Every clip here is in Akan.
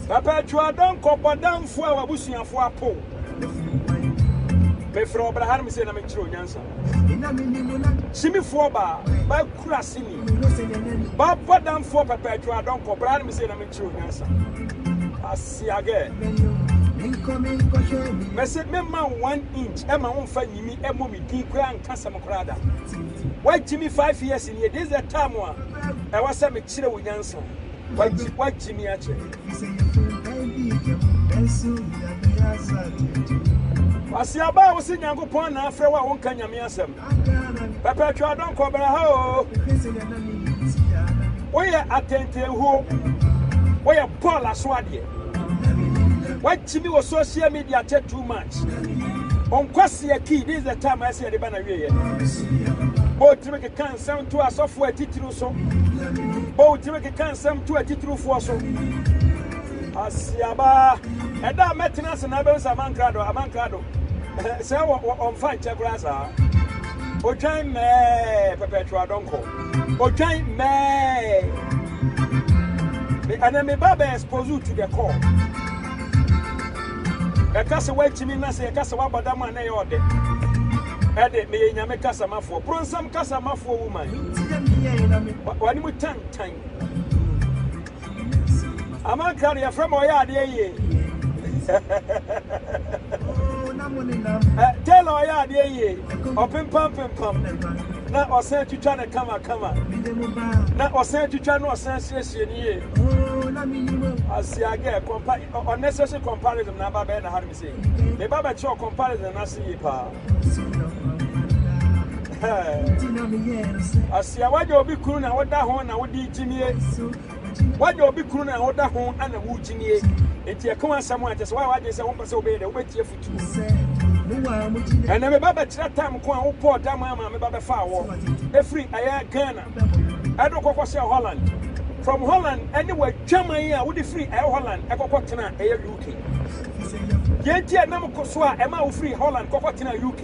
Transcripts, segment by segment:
Papa Atuado nkɔbɔ damfo a w'abusuafo apow. Mefrɛ wo bra ha na mese na menkyerɛ wo nyansa. Simifoɔ baa, bakura sini. Bɔbɔ damfoɔ Papa Atuado nkɔ bra ha na mese na menkyerɛ wo nyansa. Asiagɛ. Mese memma wo one inch ɛma wo mfa nyimi ɛmɔ me din koraa nka sɛm koraa da. Wagyimi five years. Nea this the time a ɛwɔ sɛ me kyerɛ wo nyansa Wagye wagye me akyɛ Kwasiaba a wose Nyankopɔn na afrɛ wo a wonka Nyame asɛm Pɛpɛtwe adɔn kɔ bra ha o Woyɛ atɛntɛnhuo Woyɛ bɔɔl aso adeɛ wakyimi wɔ social media tɛ too much ɔnkwasi aki this is the time a ɛsɛ yɛde ba na wieɛ bɔtumi keka nsɛm to asɔfoɔ atitiriw so bɔtumi keka nsɛm to atitiriwfoɔ so asiaba ɛda a mɛtena ase na abɛhu sɛ amankra do amankra do sɛ ɔmfa nkyɛ koraa saa otwan mɛɛ pɛpɛtwa dɔnkɔ Odwan mɛɛɛ. Me ɛnɛ me ba bɛ expose wo to the core. Ɛka sɛ wantumi na sɛ yɛka sɛ wabɔ dam a na ɛyɛ ɔdɛ. Ɛde meyɛ Nyame kasamafoɔ. Bronsam kasamafoɔ woman. W'anim tantan. Amankra de yɛfrɛ ma ɔyɛ adeɛ yie. Taylor ɔyɛ adeɛ yie. Ɔpempam pempam na ɔsan twitwa no kama kama na ɔsan twitwa na ɔsan siesie no yie. Asiagɛ compa unnecessary comparison na aba bɛyɛ na ha no mi sɛ. Me ba bɛkyerɛ comparison no ase yie paa. asia wagya obi kunu na woda ho na wode gyinie wagya obi kunu na woda ho ana wo gyinie nti ɛka asɛm a kyɛ sɛ woa wagye sɛ wopɛ sɛ wobɛyɛ dɛ wobɛtie futuo ɛnɛ meba bɛkyerɛ tam ko a wobɔɔ dam ama meba bɛfaa wɔ ɛfiri ɛyɛ ghana Edo kɔkɔ hyɛɛ Holland. From Holland ne w'adwaman a wode firi ɛyɛ Holland kɔkɔ tena ɛyɛ UK. Deɛ nti a nam ko so a ɛma wo firi Holland kɔkɔ tena UK.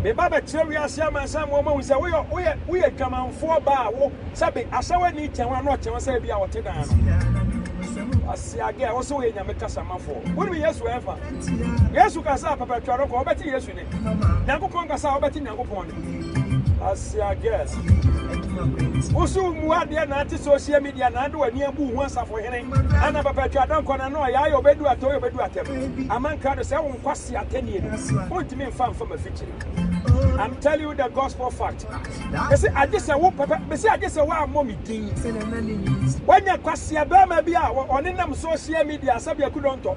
Me ba bɛkyerɛ wiase aman sɛ ama wɔn ahu sɛ woyɛ woyɛ woyɛ dwamanfoɔ ba a wo sɛ be ahyɛ w'ani kyɛn wɔn ano ɔkyɛn wɔn sɛ ebi a wɔte dan no. Ase agɛ wɔsɛ wɔyɛ nyame kasamafoɔ. Wonim Yesu ɛnfa. Yesu ka sɛ apɛpɛtwa no kɔ wɔbɛte Yesu. Nyankopɔn kasa a wobɛte Nyankopɔn ne. Asia girl wo so mmu adeɛ na ate social media na ade w'ani abu ho asafo hene ana papa atwa adankɔ na na ɔyɛ ayɛ ɔbɛdu atɔ yɛ ɔbɛdu atɛm ama nkrado sɛ wo nkwasi atɛnie no wontumi mfa mfa mafikyiri I'm telling you the gospel fact. Bɛsi agye sɛ wo pɛpɛ bɛsi agye sɛ woammɔ me din. Wanya kwasia bɛrima bi a ɔne nam social media sɛbi akudɔntɔ.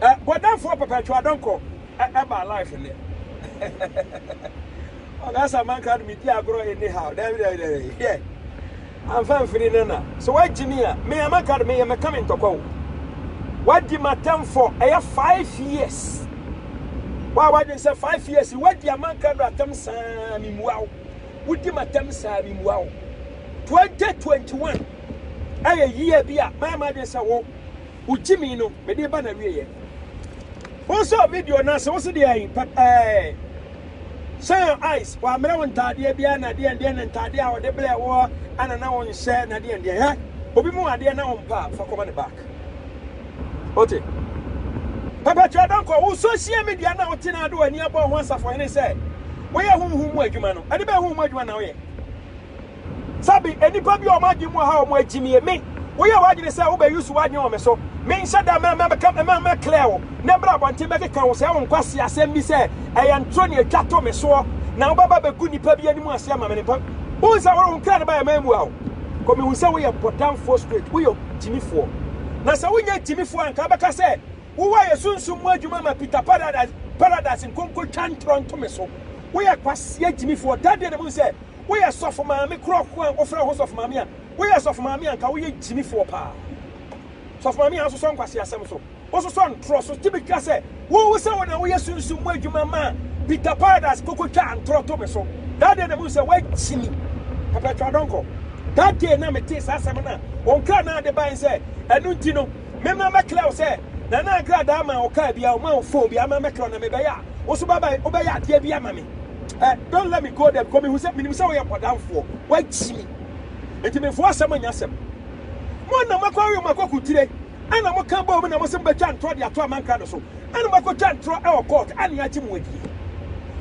Bɔdamfoɔ pɛpɛtwo adɔnkɔ ɛbaa life nnɛ. Ɔga sɛ amanka no medi agorɔ anyhow. Daabi daabi daabi. Hwɛ. Amfa mfiri ne na. So wagye me a, me amanka no meyɛ mɛka me ntɔkwa o. Wadi m'atamfo ɛyɛ five years. Wa wadwen sɛ five years wadi amanka no atam saa me mua o. Wodi m'atam saa me mua o. 2021 ɛyɛ year bi a mayɛ m'adwen sɛ wo Wo gyimii no, mede reba n'awieeɛ. Wo nso a video no ase, wo se deɛ ayi pɛ pɛɛ. Shine your eyes, wɔamerɛ wo ntaadeɛ biara na deɛn deɛn na ntaadeɛ a wɔde brɛɛ woɔ ana na wonhyɛ na deɛn deɛn. Hɛ, obi mu adeɛ na wompɛ a, fa kɔma ne back. Wote? Perpetua Donkor, wo social media na wote na ade w'ani abɔ ho asafohene sɛ woyɛ honhom mu adwuma no, ɛde bɛn honhom adwuma na woyɛ? Sabi, nnipa bi a wɔn adwene mu wɔ ha a wɔn akyinnye. Me, woyɛ w'adwene sɛ wobɛ use w'adwene wɔ me so. Me nhyɛ da mɛ, mɛ, mɛka, mɛ, mɛ clear wo, na ɛbrɛ abɔnten bɛkeka wo sɛɛ wo nkwasea asɛm bi sɛ ɛyɛ ntoro na ɛtwa to me soɔ, na wobɛba bɛgu nnipa bi anim ase ama me ne mpa. Wohu sɛ wore wo nkra ne ba yɛ mammua wo. Kɔ mehu sɛ woyɛ bɔdamfoɔ straight, woyɛ gyimifoɔ. Na sɛ wonyɛ gyimifoɔ a, nka wobɛka sɛ wowɔ ayɛ sunsum mu adwuma ma Peter Paradise, Paradise nkonkotwa ntorɔ nto me so. Woyɛ kwasea gyimifoɔ, dadeɛ na mehu sɛ. Woyɛ sɔfo maame korɔko a wofrɛ ho sɔfo maame a, woyɛ sɔfo maame a nka woyɛ gyimifoɔ paa. Sɔfo maame a wososɔ nkwaseasɛm so, wososɔ ntorɔ so, tumi ka sɛ wo wo sɛ wo na woyɛ sunsum mu adwuma maa Peter Paradise koko twaa ntorɔ to me so. That day na mu sɛ woagyimi. Pɛpɛtwa dɔnkɔ. That day na metee saa asɛm no a, wɔn kra naa de bae sɛ ɛno nti no, Memmra mmɛklɛ wo sɛ Nana nkradaa maa wo car bi a ɔmaa wo phone bi a ama mɛklɛ wo na mebɛyɛ a wo so bɛba wobɛyɛ adeɛ bi ama me eh don't let me go there because mehu sɛ menim sɛ woyɛ bɔdamfoɔ woagyi me nti mefoɔ asɛm nyɛ asɛm mo na moakɔ awe mo akɔko tire ɛna moka bɔɔ mu na mosem bɛtwa ntorɔ de ato amankra no so ɛna moakɔtwa ntorɔ ɛwɔ court ɛne agye mo adie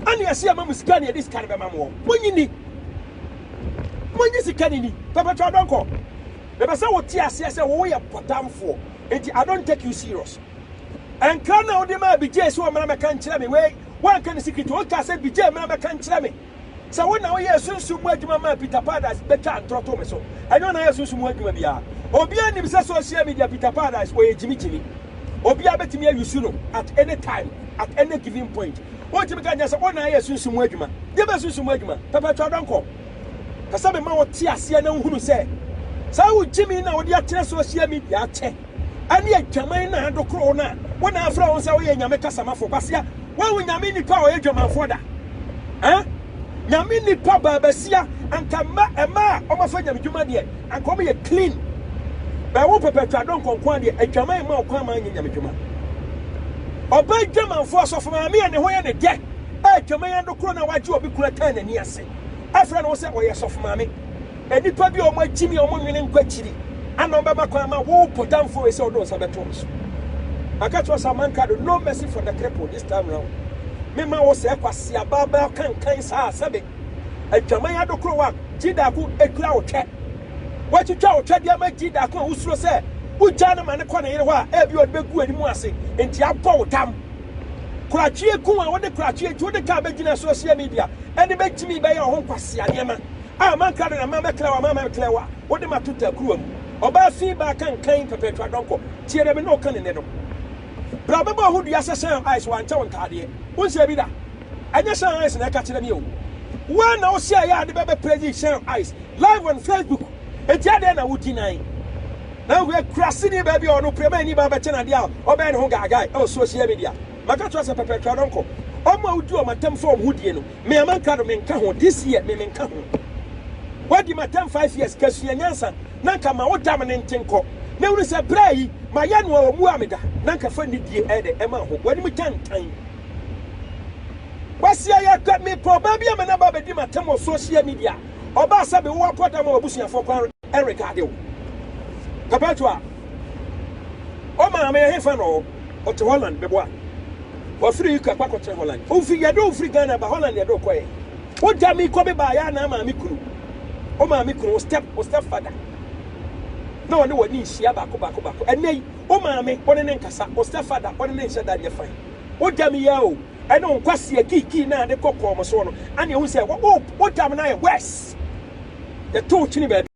ɛne ɛse ama mo sika ne ɛde sika no bɛma moɔ monyi ni monyi sika ne ni pɛpɛtwa dɔnkɔ Ɛpɛ sɛ wote aseɛ sɛ wo yɛ pɔtamfoɔ nti I don't take you serious. Nkra na wode maa Bijay sɛ ɔmmra mɛka nkyerɛ me wei woanka ne secret o wokaa sɛ Bijay mmra mɛka nkyerɛ me sɛ wo na woyɛɛ sunsum mu adwuma maa Peter Paradise bɛtwaa ntorɔ too me so ɛnyɛ wo na woyɛɛ sunsum mu adwuma biara obiara nim sɛ social media Peter Paradise ɔyɛ gyimigyimi obiara bɛtumi ayusu no at any time at any given point wontumi ka nkyɛn sɛ wo na woyɛɛ sunsum mu adwuma deɛ bɛyɛ sunsum mu adwuma pɛpɛtwa dɔnkɔ Pɛ sɛ mema wo te aseɛ na wohunu sɛ saa wo gyimi na wode akyerɛ social media akyɛ ɛne adwaman na adokoro na wo na afrɛ wo sɛ woyɛ nyame kasamafo kwasia wo wo nyame nipa a ɔyɛ dwamanfoɔ da eh nyame nipa baabasia anka mma ɛma a ɔmafa nyame dwuma deɛ anka ɔmo yɛ clean bɛɛ wo pɛpɛtwa dɔ nkɔnkɔn adeɛ adwaman ma ɔkwan ma nyɛ nyame dwuma ɔbɛ dwamanfoɔ asɔfo maame a ne ho yɛ ne dɛ adwaman adokoro na wagye obi kuna tan n'ani ase afrɛ ne ho sɛ ɔyɛ sɔfo maame, nnipa bi a wɔagyimi a wɔnwene nkɔ akyiri ana wɔbɛma kwan ma wo potamfo wei sɛ ɔde nsa bɛto me so. Maka kyerɛ sɛ amanka do, no mercy for the cripple this time round. Mema wo sɛ kwasi abaabaa kankan saa sɛbe adwaman adokoro wa gyidako ekura wo twɛ. Watwitwa wo twɛ de ama gyidako a wosuro sɛ wogyaa no ma ne kɔ ne yere hɔ a ebi ɔde bɛgu anim ase nti abɔ wo tam. Korakyie ko a wode korakyie nti wode kaa bɛgyina social media ɛne bɛgyimi bɛyɛ ɔho nkwasea nneɛma a mankra de na ma mɛkra wa ma mɛkra wa wode ma to takuruwa mu ɔbaa fi baa kankan pɛpɛtwa adɔnkɔ tie dɛ me ne ɔka ne nɛ no bra bɛbɔ ɔho dua sɛ sɛn ice wankyɛ wo ntaadeɛ wonsɛ bi da ɛnyɛ sɛn ice na ɛka kyerɛ me o woa na wosɛ yɛ ade bɛbɛ praise sɛn ice live on facebook Enti adɛn na wugyinae? Na wohwɛ akuraseni baa bi a ɔne wo pramaani baa bɛkyɛn ade a ɔbɛyɛ ne ho gaagae wɔ soahyia media. Maka akyerɛ wo sɛ pɛpɛɛ kra no nkɔ. Wɔn a wodi wɔn atam fa wɔn ho die no, me a mankra no, menka ho. This year, me menka ho. Woadi m'atam five years, ka sua nyansa, na anka ma wo dam no nte nkɔ, na hunu sɛ bere yi, mayɛ noa wɔ mmoa a meda, na anka fa nidie ɛyɛ dɛ ɛma ho. W'anim tantan. Kwasi Ayakwa, mepɛ ɔbaa bi ama no aba abɛdi m'atam wɔ soahyia media. Ɔbaa sɛ bere w'akɔ dam a w'abusuafoɔ kwan rekaade wo. Perpetua, O maame ɛhefa na ɔwɔ? Ɔte Holland, meboa. Wafiri UK akɔ akɔtena Holland. Wofi, yɛde wo firi Ghana ba Holland na yɛde wo kɔeɛ. Wogya me kɔ bebaa yɛ anaa maame kunu? Wo maame kunu, wo step, wo step father na ɔne w'ani nhyia baako baako baako. Ɛnnɛ yi, wo maame, wo ne ne nkasa, wo step father, wo ne ne nhyɛ da nyɛ fine. Wogya me yi ara o. ɛne wo nkwaseɛ kiikii no a ne kɔ kɔɔ mo soɔ no, ane ɛhu sɛ wo tam no ayɛ worse, yɛto wo kyene baabi.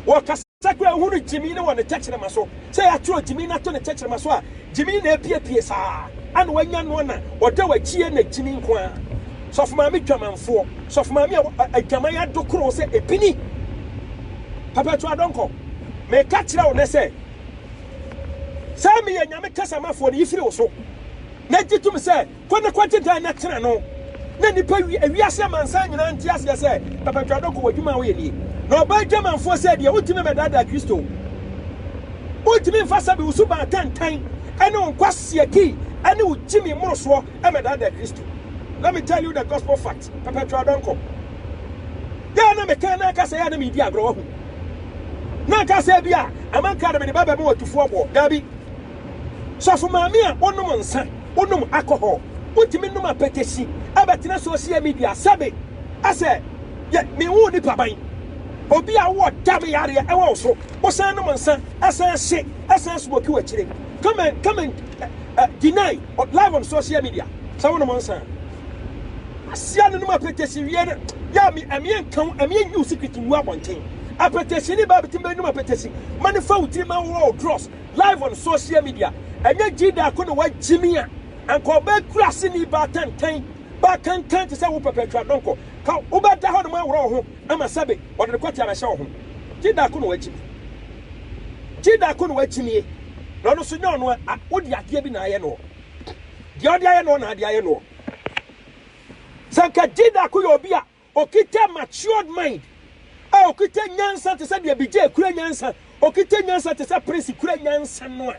Wɔkasa kura hunu gyimii no wɔ ne tɛkyerɛma so, sɛ yɛatwerɛ gyimii no ato ne tɛkyerɛma so a, gyimii na apiepie saa, ane wanya noɔ na ɔda w'akyie na gyimii nko ara. Sɔfo maame dwamanfoɔ, sɔfo maame a adwaman adokoro wo sɛ ɛpini. Perpetua Donkor, meka kyerɛ wo nnɛ sɛ, Sɛ meyɛ Nyame Kasamafoɔ no, yi firi wo so, na gye tom sɛ, Kɔ na kɔgye dan na tena no, na nnipa wi wiase amansan nyinaa nte aseɛ sɛ, Papa Twadoko, w'adwuma a woyɛ nie. Na ɔbaa adwamanfoɔ sɛ deɛ wontumi mmɛdaadaa Kristo. Wontumi mfa sɛbe wo suban atantan ne wo nkwasiaki ne wo gyimi mmorosoɔ mmɛdaadaa Kristo. Let me tell you the gospel fact. Perpetual Donkor, Dɛ a na mekãa no ankasa yɛ a na meredi agorɔ, woahu. Na anka sɛ ebia amankã na mede bɛbɛma ɔtufo ɔboɔ. Dabi. Sɔfo Maame a wonom nsa, wonom alcohol, wotumi nom apɛtɛsi, abɛtena social media sɛ me, asɛ yɛ menwoo nipa ban. Obi a wowɔ dam yareɛ ɛwɔ wo so, wosan nom nsa, ɛsan hye, ɛsan smoke wo akyire. Come and, come and, uh, uh, deny, live on social media sɛ wonom nsa. Asia no nom apɛtɛsi wie no yɛ me ɛmeɛ nka ho ɛmeɛ nyi wo secret ngu abɔnten apɛtɛsi ne baa bitim bɛ nom apɛtɛsi ma ne fa wo tiri ma wo draws live on social media ɛnyɛ gyida ako na wa gyimi a anka ɔbɛ kura se ni baa tantan baa kankan te sɛ wo pɛpɛ atwa dɔnkɔ ka wo bɛ da hɔ nom aworɔ wo ho ama sɛbe ɔde ne kɔte abɛhyɛ wo ho gyida ako na wa gyimi gyida ako na wa gyimie na ɔno so nyɛ ɔno a wo de adeɛ bi na ayɛ no Deɛ ɔde ayɛ noɔ na ade ayɛ noɔ. Sɛ nka Jidaku yɛ obi a ɔkita matured mind, a ɔkita nyansa te sɛ deɛ Bijay kura nyansa, ɔkita nyansa te sɛ Prince kura nyansa no a,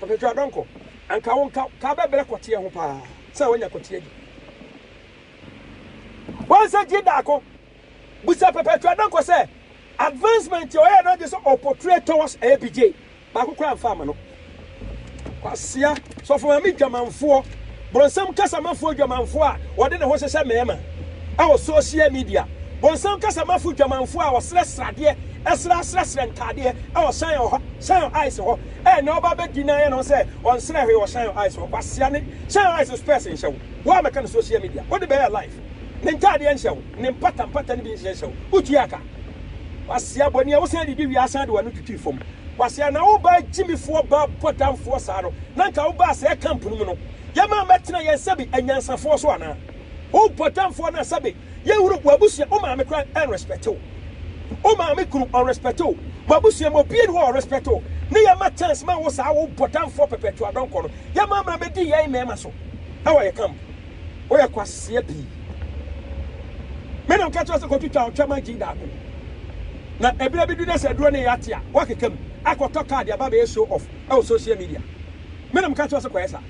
Ɔpɛtwa Adɔnkɔ, anka wo nka ka bɛbrɛ kɔteɛ ho paa sɛ woanya kɔteɛ di. Woansɛ Jidaku Bisa Perpetua Dankwa sɛ advancement a ɔyɛɛ no agye sɛ ɔportray towards APJ baako koraa mfa ama no. Kwasea, Sɔfo Maame dwamanfoɔ, bonsam kasamafoɔ dwamanfoɔ a ɔde ne ho hyehyɛ mmarima ɛwɔ social media, bonsam kasamafo dwamanfoɔ a ɔsrɛ sradeɛ, ɛsrɛ asrɛsrɛ ntaadeɛ ɛwɔ Shan ɔhɔ, Shan Ice hɔ, ɛnɛ ɔba bɛ deny no sɛ ɔnsrɛ hwee wɔ Shan Ice hɔ, kwasea ne Shan Ice spurs nhyɛ wo, wo a mɛka no social media, wode bɛyɛ life. Ne ntaadeɛ nhyɛ wo, ne mpata mpata no bi nhyɛ hyɛ wo. Wotuaa ka. Kwasea bɔne a wosan didi wie asan de w'ano twitwii fam. Kwasea, na wo baa gyimifoɔ baa bɔdamfoɔ saa no, na anka wo baa sɛɛ camp no mu no, yɛma mmɛtena yɛn sɛbe anyansafoɔ so anaa? Wo bɔdamfoɔ no a sɛbe yɛhunu w'abusua, wo maame koraa ɛnrespɛte wo. Wo maame kunu ɔnrespɛte wo. W'abusua mu obia ni hɔ a ɔrespɛte wo. Ne yɛma chance ma wo saa wo bɔdamfoɔ pɛpɛtwoadɔnkɔ no, yɛma mmra mmɛdi yɛn mmarima so ɛwɔ yɛn camp. Woyɛ kwaseɛ pii. Me na meka kyerɛ wo sɛ kɔtwitwa wo twam agye daako. Na ɛberɛ bi du na sɛ aduro no yɛ ate a, woakeka mu akɔtɔ kaa de aba abɛyɛ show off wɔ social media. Me na meka kyerɛ wo sɛ kɔyɛ saa.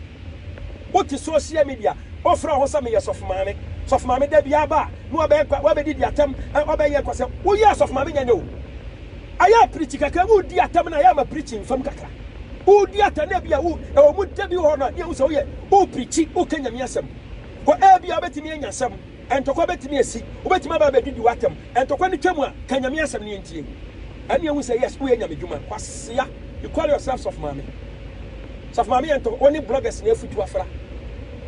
Wote social media, wofrɛ wo ho sɛ meyɛ sɔfo maame. Sɔfo maame da biara ba a, na wabɛdidi atɛm, wabɛyɛ kwasɛm. Woyɛ asɔfo maame nyɛ nyɛ o. Ayɛ pirikyi kakra, woredi atɛm no a, ɛyɛ a ma pirikyi mfam kakra. Woredi atɛm no a, ebia wo, ɛwɔ mu da bi wɔ hɔ no a, ne yɛhu sɛ woyɛ, worepirikyi, woreka Nyame asɛm. Kɔ, ebia wobɛtumi anya asɛm, ntɔkwa bɛtumi asi, wobɛtumi aba abɛdidi wo atɛm. Ntɔkwa no twa mu a, ka Nyame asɛm no yɛntie. Ɛne yɛhu sɛ, yes, woyɛ Nyame dwuma. Kwasea, you call yourself Sɔfo Maame. Sɔfo Maame yɛntɔ, wo ne bloggers na afutu afra.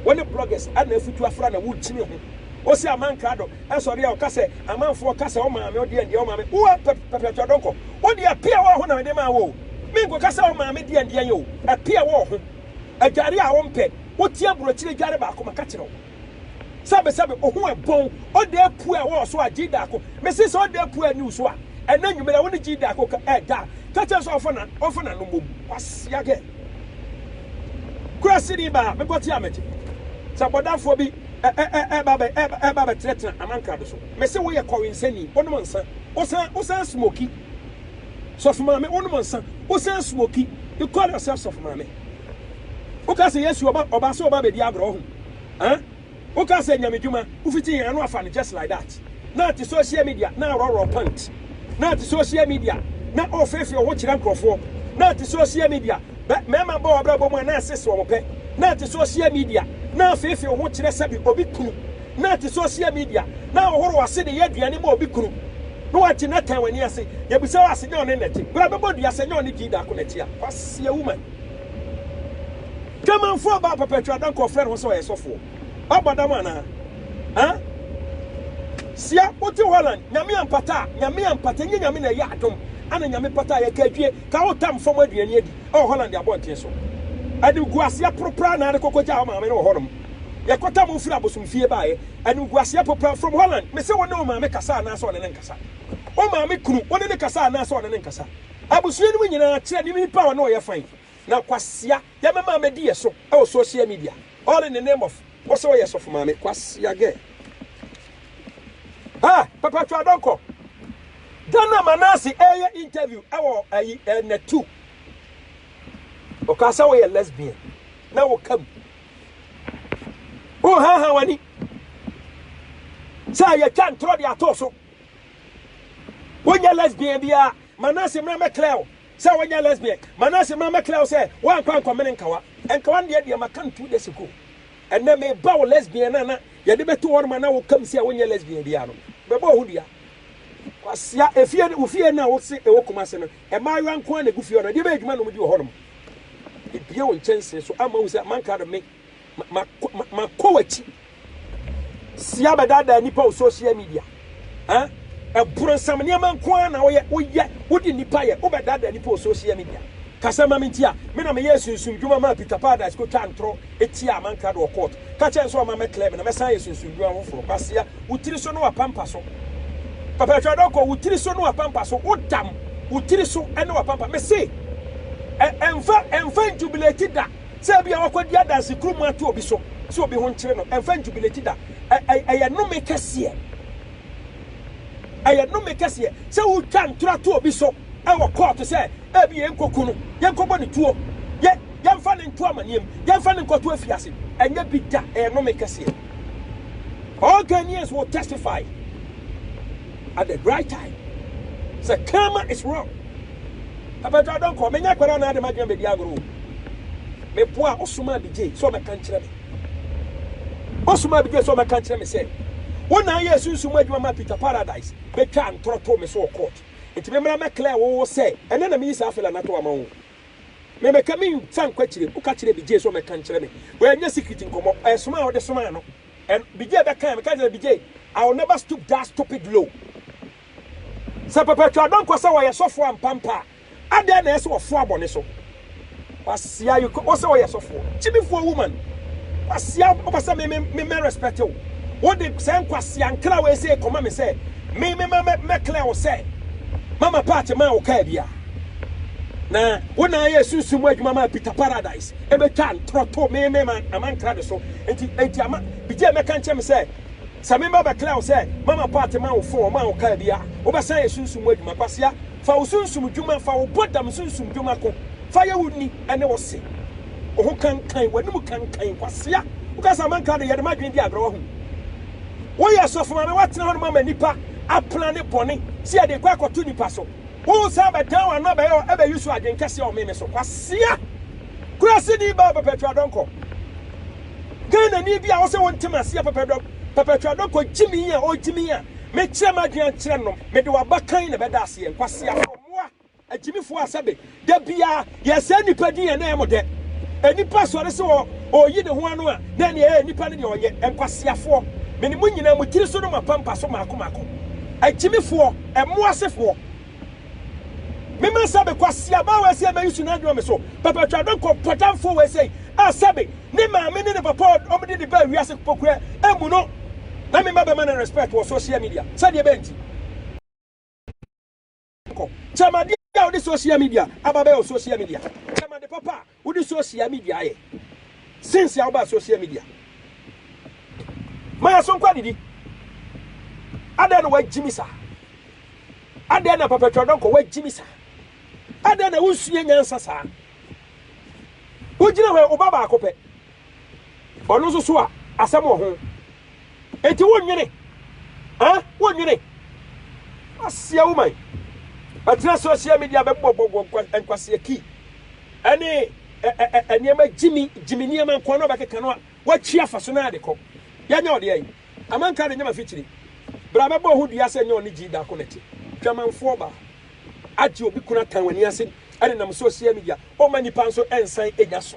Wo ne bloggers na afutu afra na worekyini ho. Osi aman krado sɔre a ɔka sɛ, Amanfoɔ ka sɛ wo maame ɔdeɛ ndeɛ wo maame wo pɛ pɛ pɛ ɔdɔnkɔ wo deɛ api a ɛwɔ ho na mede maa wo o me nkɔka sɛ wo maame deɛ ndeɛ nyɛ o api a ɛwɔ wo ho adware a wo mpɛ wo tie aburokyire adware baako maka kyerɛ wo sɛbe sɛbe wo ho ɛbɔn ɔda apu a ɛwɔ wo so a gyi daako mese sɛ ɔda apu a ɛni wo so a ɛna nwumere a wo ne gyi daako ka ɛda a ka kyerɛ sɛ ɔmfa na ɔmfa na no mom kwasia gɛ kura sini baa mebɔ te a megye sɛ bɔdafoɔ bi. ɛɛba bɛtenatena amankrado so. Mese woyɛ kɔwensani, wonom nsa, wosan, wosan smoki. Sɔfo maame, wonom nsa, wosan smoki. You call yourself sɔfo maame. Woka sɛ Yesu ɔba, ɔba sɛ ɔba bɛdi agorɔ ho. Eh? Woka sɛ nyamedwuma, wofiti yɛn ano afa no just like that. na te social media na aworɔworɔ pant, na te social media na ɔrefeefee wo ho kyerɛ nkurɔfoɔ, na te social media bɛ mmarima bɔ w'abrabɔ mu a na ɛsese wɔn pɛ, na te social media na afeefee wo ho kyerɛ sɛbi obi kunu, na te social media na ahohoro w'ase de yɛ aduane ma obi kunu, na wate na tan w'ani ase, yɛbisa wo a sɛ nyɛ ɔne na ɛte, bra bɛbɔ dua sɛ nyɛ ɔne gyi daako na ɛte a, kwasia woman. Kramanfoɔ baa papa twa da nka ɔfrɛ ne ho sɛ ɔyɛ sɔfoɔ. Ɔbɔ dam anaa? Huh? Sia wote Holland nyame ampata a nyame ampata nye nyame na ɛyɛ adom ana nyame pata a yɛka adwie ka wo tam fam aduane adi ɛwɔ Holland abɔnten so animguaseɛ poropraa na ade kɔkɔ gyaa wo maame ne wɔ hɔnom yɛkɔtam wo firi abosomfie baeɛ animguaseɛ poropraa from Holland mese wo ne wo maame kasa anaasɛ ɔne ne nkasa wo maame kunu wo ne ne kasa anaasɛ ɔne ne nkasa abusua no mu nyinaa kyerɛ ne nipa a ɔne ɔyɛ fan Na kwasea yɛ me maame di yɛ so wɔ social media all in the name of wo sɛ woyɛ sɔfo maame kwasea girl ah papa twa dɔnkɔ da na manase ɛyɛ interview ɛwɔ ayi ɛnɛ tu ɔka sɛ woyɛ lesbian na wo kam wo ha ha wani sɛ yɛ twa ntorɔ de ato so wonyɛ lesbian bia manase mmerɛ mɛklɛw Sɛ wanya lesbian. Manase ma mɛkra wo sɛ woankɔ ankɔmene nkawa. Nkawa no deɛ deɛ maka no two days ago. Ɛnnɛ meba wo lesbian no a na yɛde bɛto hɔ nom a na woka mu sɛ wonyɛ lesbian biara no. Mɛbɔ wo ho dua. Kwasea, efie no, wo fie no a wose ɛwɔ Kumase no, mmaayewa nko ara na ɛgu fie hɔ no, ɛdeɛ bɛn adwuma na wɔdi wɔ hɔ nom? Mebue wo nkyɛnsee so ama woahu sɛ mankrado me. ma ma ma kɔ w'akyi si abɛdaadaa nnipa wɔ social media eh ɛborɔnsam nneɛma nko ara na woyɛ woyɛ wode nnipa yɛ wobɛdaadaa nnipa wɔ social media kasa ma me nti a me na meyɛ sunsum dwuma maa Peter Paradise kɔtwa ntorɔ ɛtia amankra do wɔ court ka kyɛ nso ɔma mɛklɛ me na mɛsan yɛ sunsum dwuma foforɔ kwasia wo tiri so ne wapampa so papa atwa dɔkɔ wo tiri so ne wapampa so wodam wo tiri so ne wapampa mese ɛmfa ɛmfa njubilate da sɛ ebia wakɔdi adanse kurom ato obi so sɛ obi ho nkyere no, ɛmfa njubileti da. Ɛ, ɛ, ɛyɛ nnome kɛseɛ. Ɛyɛ nnome kɛseɛ sɛ wotwa ntorɔ to obi so wɔ kɔɔto sɛ ebia yɛnkɔku no, yɛnkɔbɔ no tuo, yɛ, yɛmfa no nto amanneɛ mu, yɛmfa no nkɔto afiase. Ɛnyɛ bi da. Ɛyɛ nnome kɛseɛ. All Ghanaians will testify at the right time sɛ karma is wrong. Papa gya ɔdɔ nkɔ, menya kwan anaa de m'adwene bɛdi agorɔ o. Meboa Ɔsomaa Bigyei sɛ ɔmmɛka nkyerɛ me. Ɔsomaa Bigyei sɛ ɔmmɛka nkyerɛ me sɛ wo na woyɛɛ sunsum mu adwuma maa Peter Paradise bɛtwaa ntorɔ too me so wɔ court nti memmra mmɛclare wo sɛ ɛnnɛ na meyi saa fella no ato ama wo. Memeka mensa nkɔ akyire, woka kyerɛɛ Bigyei sɛ ɔmmɛka nkyerɛ me. Wei ɛnyɛ secret nkɔmmɔ, ɛyɛ soma a wode somaa no. Ɛn, Bigyei bɛkaeɛ, meka kyerɛɛ no sɛ Bigyei, I will never stoop that stupid low. Sɛ perpetual dɔn kɔ sɛ ɔyɛ sɔfoɔ ampa mpa a, adɛn na ɛyɛ sɛ ɔfoa bɔne so? Kwasia you kɔ sɛ ɔyɛ sɔfoɔ. Gyimifoɔ woman. Kwasia wopɛ sɛ me me me mɛ respect wo. Wo de sɛ nkwasia nkra wei sɛ kɔma me sɛ me me mɛ mɛ mɛ clear wo sɛ mama part maa wo kaa bi a. Na wo na ayɛ sunsun mu adwuma maa Peter Paradise ɛbɛtwa ntorɔto me me ma ama nkra ne so. Enti enti ama bigye mɛka nkyɛ me sɛ Sɛ me mma bɛklɛɛ wo sɛ mama paate ma wo fon ɔmaa wo kaa bi a wobɛsan yɛ sunsum mu adwuma kwasea fa wo sunsum dwuma fa wo bɔ dam sunsum dwuma ko fa yɛ wo ni ɛne wo se wo ho kankan w'anim kankan kwasea woka sɛ amanka de yɛde ma adwene di agorɔ wahu woyɛ sɔfo maame watena hɔ no mama nipa apla ne bɔne si ɛde kɔ akɔto nipa so wo san bɛdan w'ano abɛyɛ ɛbɛyi so adwene kɛseɛ ɔmeme so kwasea kuraseni baa bɛpɛtwa dɔnkɔ Ghanani bi a ɔsɛ wonte m'aseɛ pɛpɛdɔ pɛpɛtwɛdɔ kɔ gyimii a ɔgyimii a mekyerɛ m'adwene akyerɛ nom mede w'abakan na ɛbɛda aseɛ nkwaseafoɔ mmoa agyimifoɔ a sɛbe da biara yɛsɛe nnipa din a na ɛyɛ mo dɛ nnipa sɔre sɛ ɔ ɔyi ne ho ano a na ɛneɛ ɛɛ nnipa no deɛ ɔnyɛ nkwaseafoɔ mene mo nyinaa mo tiri so ne mo apampa so maako maako agyimifoɔ mmoa sefoɔ Me ma sɛbe kwasea baa wei sɛ mɛyi su na adwuma me so papa twa do kɔ pɔtamfoɔ wei sɛ a sɛbe ne maame ne ne papa ɔmo de ne baa wiase pokua emu no na me ma bɛma ne respect wɔ social media sɛdeɛ bɛn ti kɔ kyɛm adeɛ a wode social media aba bɛyɛ wɔ social media kyɛm ade papa a. Wode sosia midia ayɛ since a wobaa sosia midia. Ma yɛn so nkɔ adidi. Adɛn na woagyimi saa? Adɛn na Papa Twa Donkor woagyimi saa? Adɛn na wonsua nyansa saa? Wogyina hɔ yi, wo ba baako pɛ. Ɔno nso so a, asɛm wɔ ho. Enti wonnwene, ah, wonnwene. Asia woman, ɛtena social media bɛbɔbɔbɔ nkwasea kii, ɛne ɛ ɛ ɛ nneɛma gyimi gyimi nneɛma nkoa na ɔbɛkeka no a, watwi afa so na ade kɔ. Yɛnyɛ ɔde ɛn. Amanka de nyɛ mafikyiri. Bra bɛbɔ wo ho dua sɛ nyɛ ɔne gyii daako na ɛte. Dwamanfoɔ baa. Agye obi kunu atan w'ani ase ɛnenam social media. Ɔmma nnipa nso ɛnsan ɛnya so.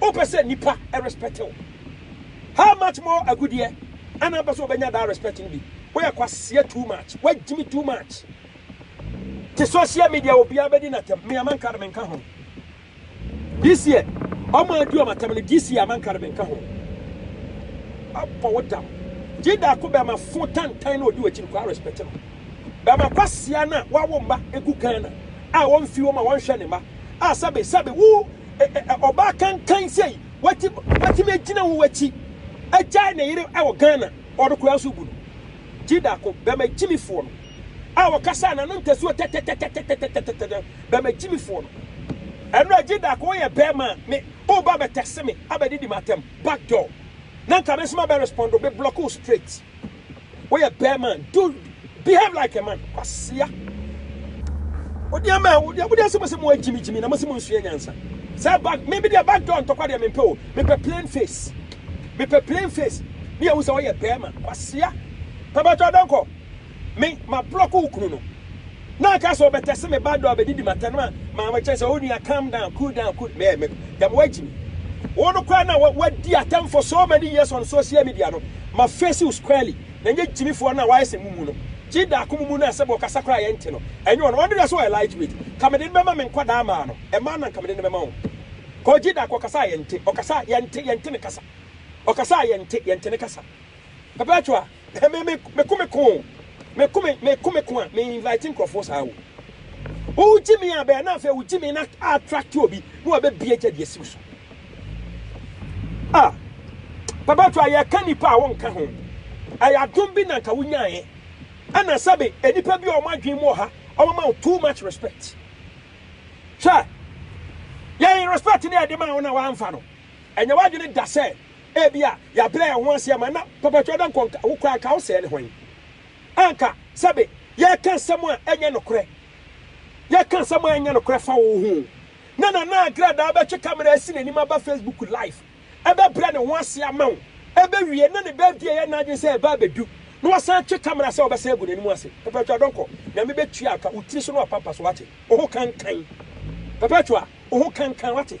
Wopɛ sɛ nipa respect wo? How much more agudeɛ ɛna wopɛ sɛ wobɛnya that respect no bi? Woyɛ kwaseɛ too much, woagyimi too much. Te social media obiara bɛdi n'atɛm, me Amankare menka ho. This year, wɔn a adi wɔn atɛm no, this year Amankare menka ho. Abɔ wo dam. Gye daako bɛma fo tantan na odi w'akyi no kora respect no. Bɛma kwaseɛ no a wawo mma gu Ghana a wɔmfi wɔn a wɔnhwɛ ne mma a sɛbe sɛbe wo Ɔbaa kankan sei watumi agyina wo akyi agyae ne yere wɔ Ghana ɔno koraa nso bu no gye daako bɛma gyimifoɔ no a wɔkasa na no ntasuo tɛtɛtɛtɛtɛtɛtɛtɛtɛ bɛma gyimifoɔ no ɛno a gye daako woyɛ bɛrima me woba bɛtɛse me abɛdidi m'atam backdoor na nka me nso mabɛ respondo me block wo straight Woyɛ bɛrima do behave like a man kwasia. Wode ama a wode wode asɛm sɛ mo agyimi gyimi na mo sɛ mo nsua nyansa. Sɛ back me bi de back door ntɔkwa de me pɛ o. Me pɛ plain face. Me pɛ plain face. Me yɛ wo sɛ woyɛ bɛrima kwasia. Papa to adanko. Me ma block wo kunu no. Na ɔka sɛ ɔbɛtɛse me ba do a ɔbɛdidi m'atɛn no a, maa mekyerɛ sɛ, O nua, calm down, cool down, cool me, me, dɛm woagye me. Wo no koraa na woadi atɛm for so many years on social media no, ma face wo squarely, na nyɛ gyimifoɔ no a wayɛ sɛ mumu no. Gye daako mumu no a sɛbe ɔkasa koraa a yɛnte no, ɛnyɛ ɔno, ɔno deɛ sɛ ɔyɛ light weight, nka mede no bɛma me nkwadaa mmaa no, mmaa no na nka mede no bɛma wɔn. Cause Gye daako ɔkasa a yɛnte, ɔkasa a, yɛnte, yɛnte ne kasa. Ɔkasa a yɛnte, yɛnte ne kasa. Perpetua. Hɛ me me me ko me ko o me ko me me ko me ko a me invite nkorɔfoɔ saa o wo gye me a bɛɛ na afei wo gye me na a attract obi na wabɛ bie gya deɛ siw so ah papa to a yɛ ka nipa a wo nka ho ɛyɛ adom bi na nka wo nyaeɛ ɛna sɛbe nipa bi a wɔn adwene mu ɔha wɔn ma wo too much respect hwɛ yɛn respect ne yɛde ma wo na wɔamfa no ɛnyɛ w'adwene da sɛ Ebia yɛabrɛ yɛn ho ase ama na Papa Twedankɔ nka wo koraa, anka wosɛɛ ne hwan? Anka, sɛbe, yɛreka nsɛm a ɛnyɛ nokorɛ, yɛreka nsɛm a ɛnyɛ nokorɛ fa wo ho o. Na Nana Agradaa bɛtwe camera asi n'anim aba Facebook live, ɛbɛbrɛ ne ho ase ama wo, ɛbɛwie na ne birthday ɛyɛ n'adwene sɛ ɛreba abɛdu, na wasan atwe camera sɛ ɔbɛsan agu n'anim ase. Papa Twedankɔ, Nyame bɛtua ka, wo tiri so na wapampa so, wate? Wo ho kankan. Perpetua, wo ho kankan, wate?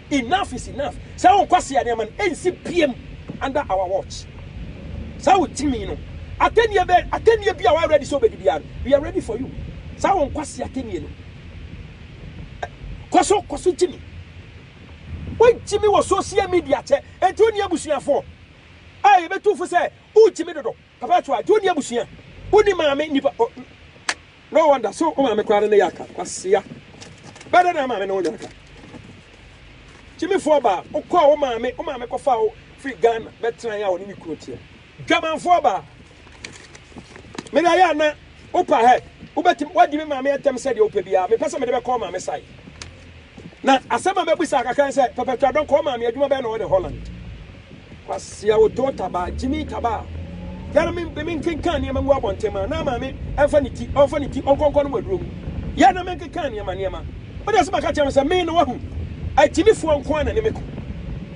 Enough is enough saa wo nkwasea nneɛma no ɛnsi biam under our watch saa wo timi no atɛnnie bɛ atɛnnie bi a wa ready sɛ obɛdi biara no we are ready for you saa wo nkwasea atɛnnie no kɔso kɔso gyimi wo gyimi wɔ social media kyɛ ɛnti wo ni abusuafoɔ a yɛbɛtu fo sɛ wo gyimi dodo Papa to a nti wonni abusua wonni maame nnipa oh no wonder so wo maame koraa no ne yɛ aka kwasea bɛdɛ na maame ne wo nyɛ aka gyimifoɔ baa wokɔɔ wo maame wo maame kɔfa wo firi Ghana bɛtran a wɔne ne kunu teɛ dwamanfoɔ baa mede ayɛ ana wopa hɛ wobɛtim wadi me maame atɛm sɛdeɛ wopɛ biara mepɛ sɛ mede bɛkɔ maame sae Na asɛm a mɛbisa kakra ne sɛ, Pɛpɛtwa Dɔnkɔ, wo maame adwuma bɛn na ɔyɛ ne Holland? Kwasea Otoo taba, Jimmy taba a yɛn ara me menkenkan nneɛma ngu abɔnten ma na maame mfa ne ti, ɔmfa ne ti ɔnkɔnkɔ no mu aduro mu. Yɛn na menkenkan nneɛma nneɛma. Wo deɛ sɛ maka kyerɛ me sɛ me na wahu, agyimifoɔ nko ara na ne me ko.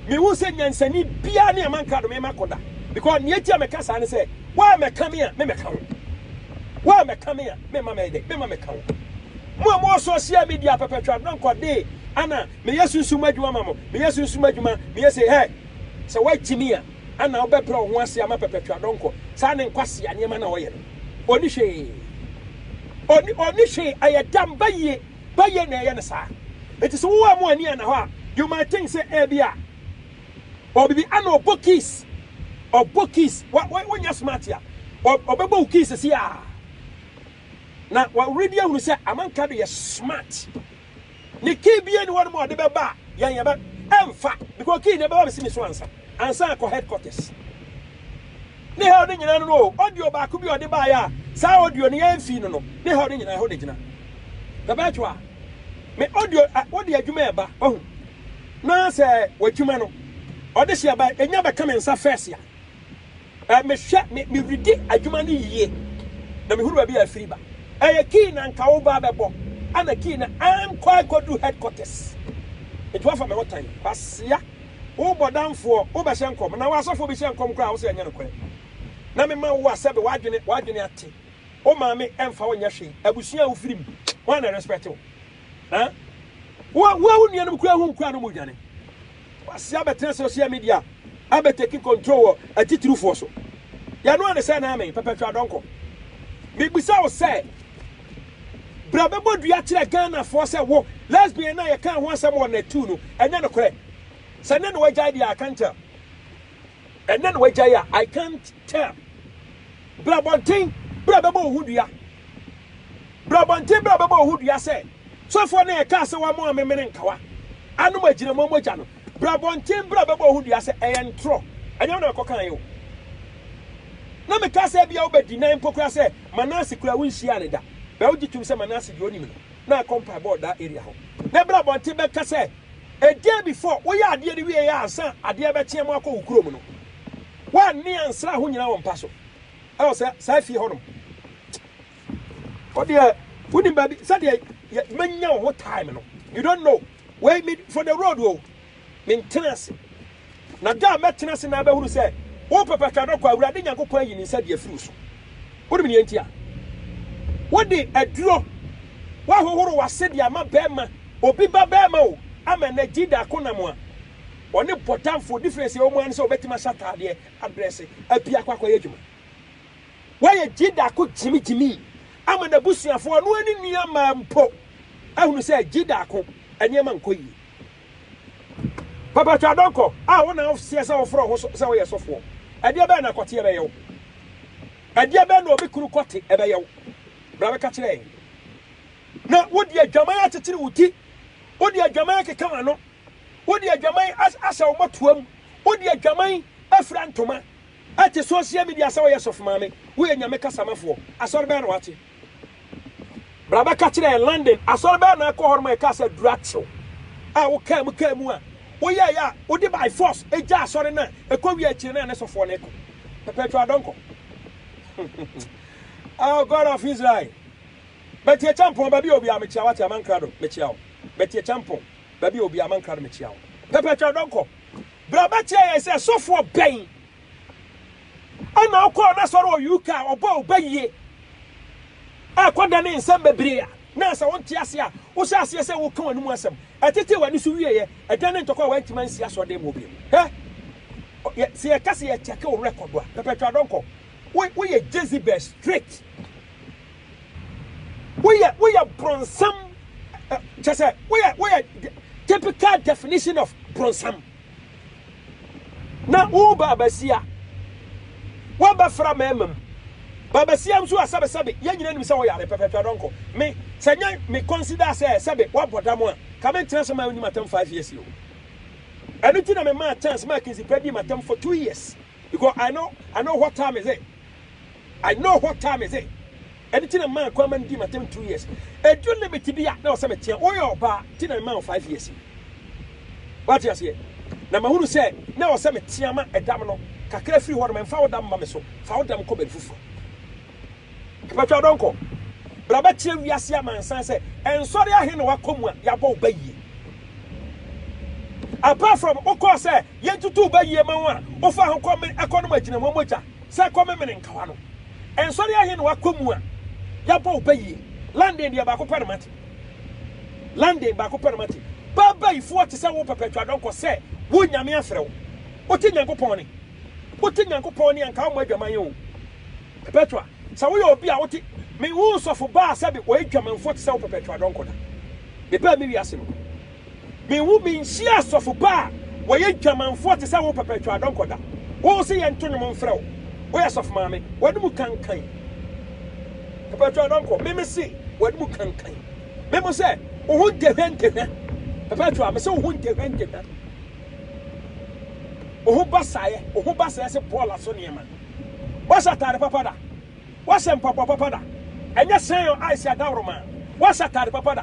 Mehu sɛ nyansani biara ne amanka do me ma ko da because nea enti a meka saa ne sɛ, wo a mɛka me a, me mɛka wo. Wo a mɛka me a. Me mma mɛyɛ dɛn? Me mma mɛka wo. Mo a mowɔ sosial midia pɛpɛtwa dɔnkɔ dee ana meyɛ sunsum mu adwuma ma mo, meyɛ sunsum mu adwuma, meyɛ sei hɛ! Sɛ woagye me a, ana wobɛbrɛ wo ho ase ama pɛpɛtwa dɔnkɔ? Saa ne nkwasea nneɛma no a ɔyɛ no. Ɔnni hwee. Ɔnni, ɔnni hwee. Ɛyɛ dam, bayie, bayie na ɛyɛ no saa. Enti sɛ wowɔ a mo ani anna hɔ a, you might think sɛ ɛbi a ɔwɔ biribi ana ɔbɔ keys, ɔbɔ keys. Wa, wa, wonyɛ smart a, ɔ, ɔbɛbɔ wo keys siaa. Na wɔredi ahunu sɛ amanka do yɛ smart. Ne key bia ni hɔ nom a ɔde bɛba a yɛn yɛbɛ ɛmfa because key no ɛbɛba bɛsi me so ansa ansa akɔ headquarters. Ne hell no nyinaa no no o audio baako bi a ɔde baeɛ a saa audio no yɛn fii no no ne hell no nyinaa ɛhɔ na gyina. Bɛbɛɛtwo a me audio a wode adwuma ɛba wahu na sɛ w'adwuma no ɔde hyɛ ba ɛnya bɛka me nsa first a Eh, mehwɛ, me, meredi adwuma no yie, na mehunu baabi a afiri ba. Ɛyɛ key na nka wo ba bɛbɔ, ɛna key na ankɔ akɔdu headquarters. Nti wafa me ho tan, kwasea. Wo bɔdamfoɔ, wo bɛhyɛ nkɔm, na w'asɔfoɔ bi hyɛ nkɔm koraa a, wo sɛ ɛnyɛ nokorɛ. Na me ma wo a sɛbe w'adwene, w'adwene ate. Wo maame ɛmfa wo nyɛ hwee, abusua a wo firi mu, hwan na ɛrespect wo? Eh? Wo wo wo nuanom kura ho nkura no mu dwane. Wasi abɛtena social media abɛteki control wɔ atitirufoɔ so. Yɛno ane sɛ na ame pɛpɛtwa adɔnkɔ. Mebisa wo sɛ bra bɛbɔ dua kyerɛ Ghanafoɔ sɛ wo lesbian no a yɛkaa ho asɛm wɔ natu no ɛnyɛ nokorɛ. Sɛ nɛ na wagyae deɛ I can't tell. Ɛnnɛ na wagyae a I can't tell. Bra abɔnten, bra bɛbɔ wo ho dua. Bra abɔnten, bra bɛbɔ wo ho dua sɛ sɔfoɔ no a ɛkaa sɛ wɔama amemene nkawa anom agyinamoa mogya no. Bra abɔnten, bra bɛbɔ wo ho dua sɛ ɛyɛ ntorɔ. Ɛnyɛ wo na mekɔkaeɛ o. Na mekaa sɛ ebia wobɛdi nan mpo koraa sɛ Manase koraa wonhyiaa no da. Bɛ wogye tom sɛ Manase deɛ ɔnim no na akɔ mpaebɔ wɔ daa area hɔ. Nɛ bra abɔnten bɛka sɛ. A day before woyɛ adeɛ no wieɛ ansa adeɛ bɛkyeɛ mo akɔ wo kurom no woanne ansra ho nyina wo mpa so ɛwɔ sɛ saa fie hɔ nom wodeɛ wonim baabi sɛdeɛ manya wo ho time no you don't know wei me for the road o mentena ase Na da a mɛtena ase na abɛhunu sɛ wo pɛpɛ twa dɔkɔ a Awurade Nyankopɔn ayi ne nsa de afiri wo so. Wonim nea nti a wode aduro woahohoro w'ase de ama bɛrima, obi ba bɛrima o, ama ɛnnɛ Jida ko nam a ɔne bɔdamfoɔ difference a ɛwɔ mu ara ne sɛ ɔbɛtumi ahyɛ ataadeɛ, adrɛse, apue akɔ akɔyɛ adwuma. Woayɛ Jida ko gyimigyimi ama n'abusuafoɔ, ɔno ara ne nuammaa mpo ahunu sɛ Jida ko nneɛma nkɔ yie. Papa Twa Donkor, a wo na wo seɛ sɛ wo frɛ wo ho so sɛ wo yɛ sɔfoɔ, ɛdeɛ bɛn na kɔteɛ bɛyɛ wo? Ɛdeɛ bɛn na obi kunu kɔte ɛbɛyɛ wo? Bra bɛka kyerɛ yɛn. Na wo de adwaman akyekyere wo ti, wo de adwaman akeka w'ano, wo de adwaman ahyɛ wo mmɔtoa mu, wo de adwaman afira ntoma, ɛte social media sɛ wo yɛ sɔfomaame, wo yɛ Nyame kasamafoɔ, asɔre bɛn na wate? Bra bɛka kyerɛ yɛn, London asɔre bɛn na ɛkɔ hɔnom a ɛkaa sɛ duru akyew a wokaa mu kaa mu a woyɛeɛ a wode by force ɛgya asɔre no a ɛkɔ wie akyire no a ne sofoɔ no ɛkɔ perpetual adɔnkɔ oh God of Israel Bɛti Akyɛmpɔn baabi a obi a mekyia wate amankra do mekyia wo Bɛti Akyɛmpɔn baabi a obi a amankra do mekyia wo perpetual adɔnkɔ Bra bɛkyerɛ yɛn sɛ sofoɔ bɛn Ɛna ɔkɔɔ n'asɔre wɔ UK a ɔbɔɔ ɔba yie a kɔdanee nsɛm bebree a na ansa wonte ase a wohyɛ aseɛ sɛ woka w'ano mu asɛm ɛtetee w'ani so wieɛ ɛdanee ntɔkwa a wantumi ansi asɔreden mu hɔ bio hɛ yɛ sɛ yɛka sɛ yɛkyɛke wo rekɔdo a pɛpɛtwa adɔnkɔ wo woyɛ Jezebel straight woyɛ woyɛ bronsam kyɛ sɛ woyɛ woyɛ typical definition of bronsam Na wo baabasia, woabɛfra mmarima mu. Baabasia nso a, sɛbe, sɛbe, yɛn nyinaa nim sɛ woyare pɛpɛpɛ, dɔnkɔ. Me, sɛ nyɛ me consider sɛ, sɛbe, woabɔ dam a, nka mentena ase mma wo nni m'atam five years yi o. Ɛno nti na memaa chance maa Kinsey Pɛ dii m'atam for two years, because I know, I know what time is it. I know who time is it ɛno nti na maa kwan ma no dii m'atam two years ɛdu limit bi a na ɔsɛ meteɛ woyɛ ɔbaa nti na mema wo five years wate aseɛ na mahunu sɛ na ɔsɛ metea ma ɛdam no kakra firi hɔ no mfa wo dam ma me so fa wo dam kɔ baabi foforɔ ɛpatwa dɔnkɔ bra bɛkyerɛ wiase amansan sɛ ɛnsɔre ahe na wakɔ mu a yɛabɔ wo ba yie apart from wokɔɔ sɛ Yentutuw bɛ yie ma wɔn a wɔfa ho kɔ me ɛkɔ nom agyina wɔn mogya sɛ ɛkɔ me mene nkawa no. Nsɔre ahe na wɔakɔ mu a yɛabɔ wo bɛ yie? London deɛ baako pɛ na mate. London baako pɛ na mate. Bɛ bɛ yi foɔ te sɛ wo pɛpɛtwa dɔnkɔ sɛ wo Nyame afrɛ wo. Wote Nyankopɔn ne. Wote Nyankopɔn ne a nka wommɔ adwaman oo. Pɛpɛtwa sɛ woyɛ obi a wote menhuu sɔfo baa sɛbe ɔyɛ dwamanfoɔ te sɛ wo pɛpɛtwa dɔnkɔ da. Mebaa me wiase no. Menwu menhyia asɔfo pa a wɔyɛ dwamanfoɔ te sɛ wo pɛpɛtwaadɔnkɔ da. Wo se yɛnto nnwom mfrɛ wo, woyɛ sɔfo maame. W'ani mu kankan. Pɛpɛtwaadɔnkɔ, me me se w'ani mu kankan. Me mo sɛ wo ho ntehwɛ ntehwɛ. Pɛpɛtwaa, me se wo ho ntehwɛ ntehwɛ. Wo ho basaeɛ, wo ho basaeɛ se bɔɔla so nneɛma. Woahyɛ ataade papa da? Woahyɛ mpaboa papa da? Ɛnyɛ sɛn o, ice adaworoma. Woahyɛ ataade papa da?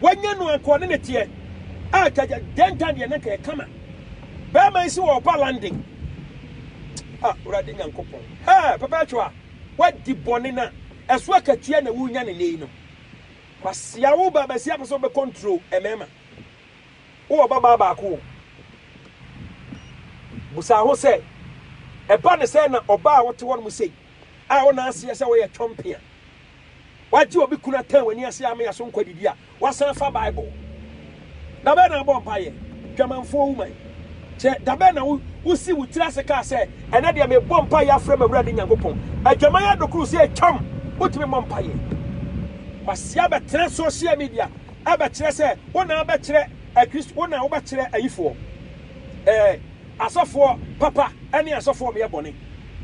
Wanya no anka ɔne no teɛ. Ah Jaja dɛn tan deɛ nanka yɛ kama bɛɛma yi se wɔ ɔba London ah Awurade Nyankopɔn hɛɛ papa atwa a wadi bɔne na ɛso akatua na wunya no nnɛ yi no Kwasea wo ba basia pɛ sɛ wobɛ control ɛmɛɛma wowɔ ɔba baa baako o busa ho sɛ ɛba ne sɛ na ɔba a wote hɔ no mu sei a wo na aseɛ sɛ woyɛ twɔmpea Wagye obi kunu atan w'ani ase ama yɛaso nkwa didi a, wasan afa Bible. Da bɛn na abɔ mpaeɛ? Dwamanfoɔ wu man. Kyɛ, da bɛn na wo, wosii wo tiri ase kaa sɛ, Ɛnnɛ deɛ mebɔ mpaeɛ afrɛ m'Awurade Nyankopɔn? Adwaman adokoro sɛ atwam, wotumi mmɔ mpaeɛ. Wasi abɛtena social media ɛbɛkyerɛ sɛ wo na abɛkyerɛ Akristo, wo na wobɛkyerɛ ayifoɔ. Ɛɛ, Asɔfoɔ papa ne asɔfoɔ meyɛ bɔne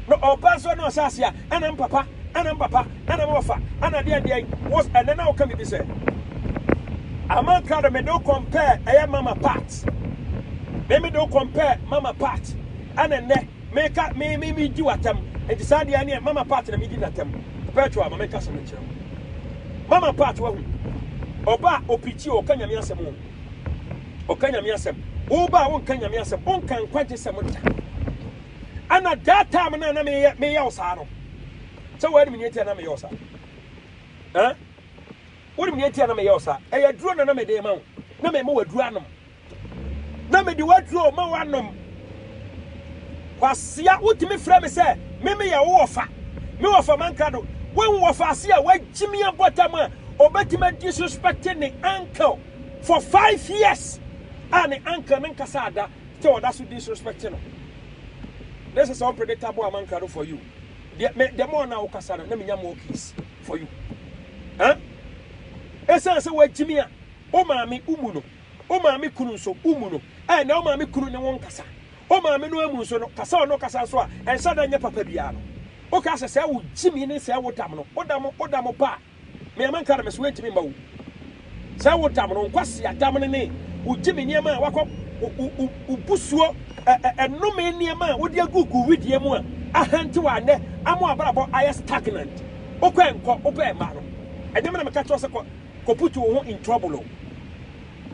na ɔba so na ɔhyɛ aseɛ a ɛna mpapa ɛna mpapa ɛna mɔfa ɛna deɛn deɛn wos ɛnɛ na woka bibi sɛ aman krado mede wo compare ɛyɛ mama part me mede wo compare mama part ɛna nnɛ meka me me me gyi watam nti saa deɛ neɛ mama part na medi natam perpetual ma menka sɛ menkyerɛ mama part wahu ɔba opikyi ɔka nyame asɛm o Ɔka Nyame asɛm. Woba a wonka Nyame asɛm. Wonka nkwagyesɛm da. Ɛna that time no a na meyɛ meyɛ wo saa no. Sɛ woanim nea ɛtia na meyɛ wo saa. Ɛn? Wonim nea ɛtia na meyɛ wo saa. Ɛyɛ aduro na na mede ma wo. Na mema w'aduro anom. Na mede w'aduro ma w'anom. Kwasea wotumi frɛ me sɛ me meyɛ wo wɔfa, me wɔfa mankrado, wo nwɔfa ase a wagye me abɔta mu a ɔbɛtumi a disrespect ne uncle for five years a ne uncle no nkasa ada sɛ ɔda so disrespect no. This is unpredictable amankrado for you. Deɛ me deɛ mo na wokasa no na menya more keys for you. Huh? Ɛsan sɛ wagye me a wo maame umu no. Wo maame kunu nso, wo mu no, ɛ nea wo maame kunu ne wo nkasa. Wo maame no ara mu nso no, kasa a ɔne wo kasa nso a, ɛnhyɛ da nyɛ papa biara no. Wo ka sɛ, sɛɛ wo gyimi ne sɛɛ wo dam no, wo dam, wo dam wo pa a, me a menka no, me se woantumi mma wo. Sɛɛ wo dam no, nkwasea dam no ne wo gyimi nneɛma a woakɔ, wo, wo, wo, wo busuo, ɛ, ɛ, ɛnome nneɛma a wode agu gu wedeɛ mu a, ahantew a nnɛ ama w'abrabɔ ayɛ stagnant. Wokɔ ɛ nkɔ, wopɛ ɛ mma no. Ɛnyɛ me na meka kyerɛ wo sɛ kɔ. kɔputu wo ho in trouble o.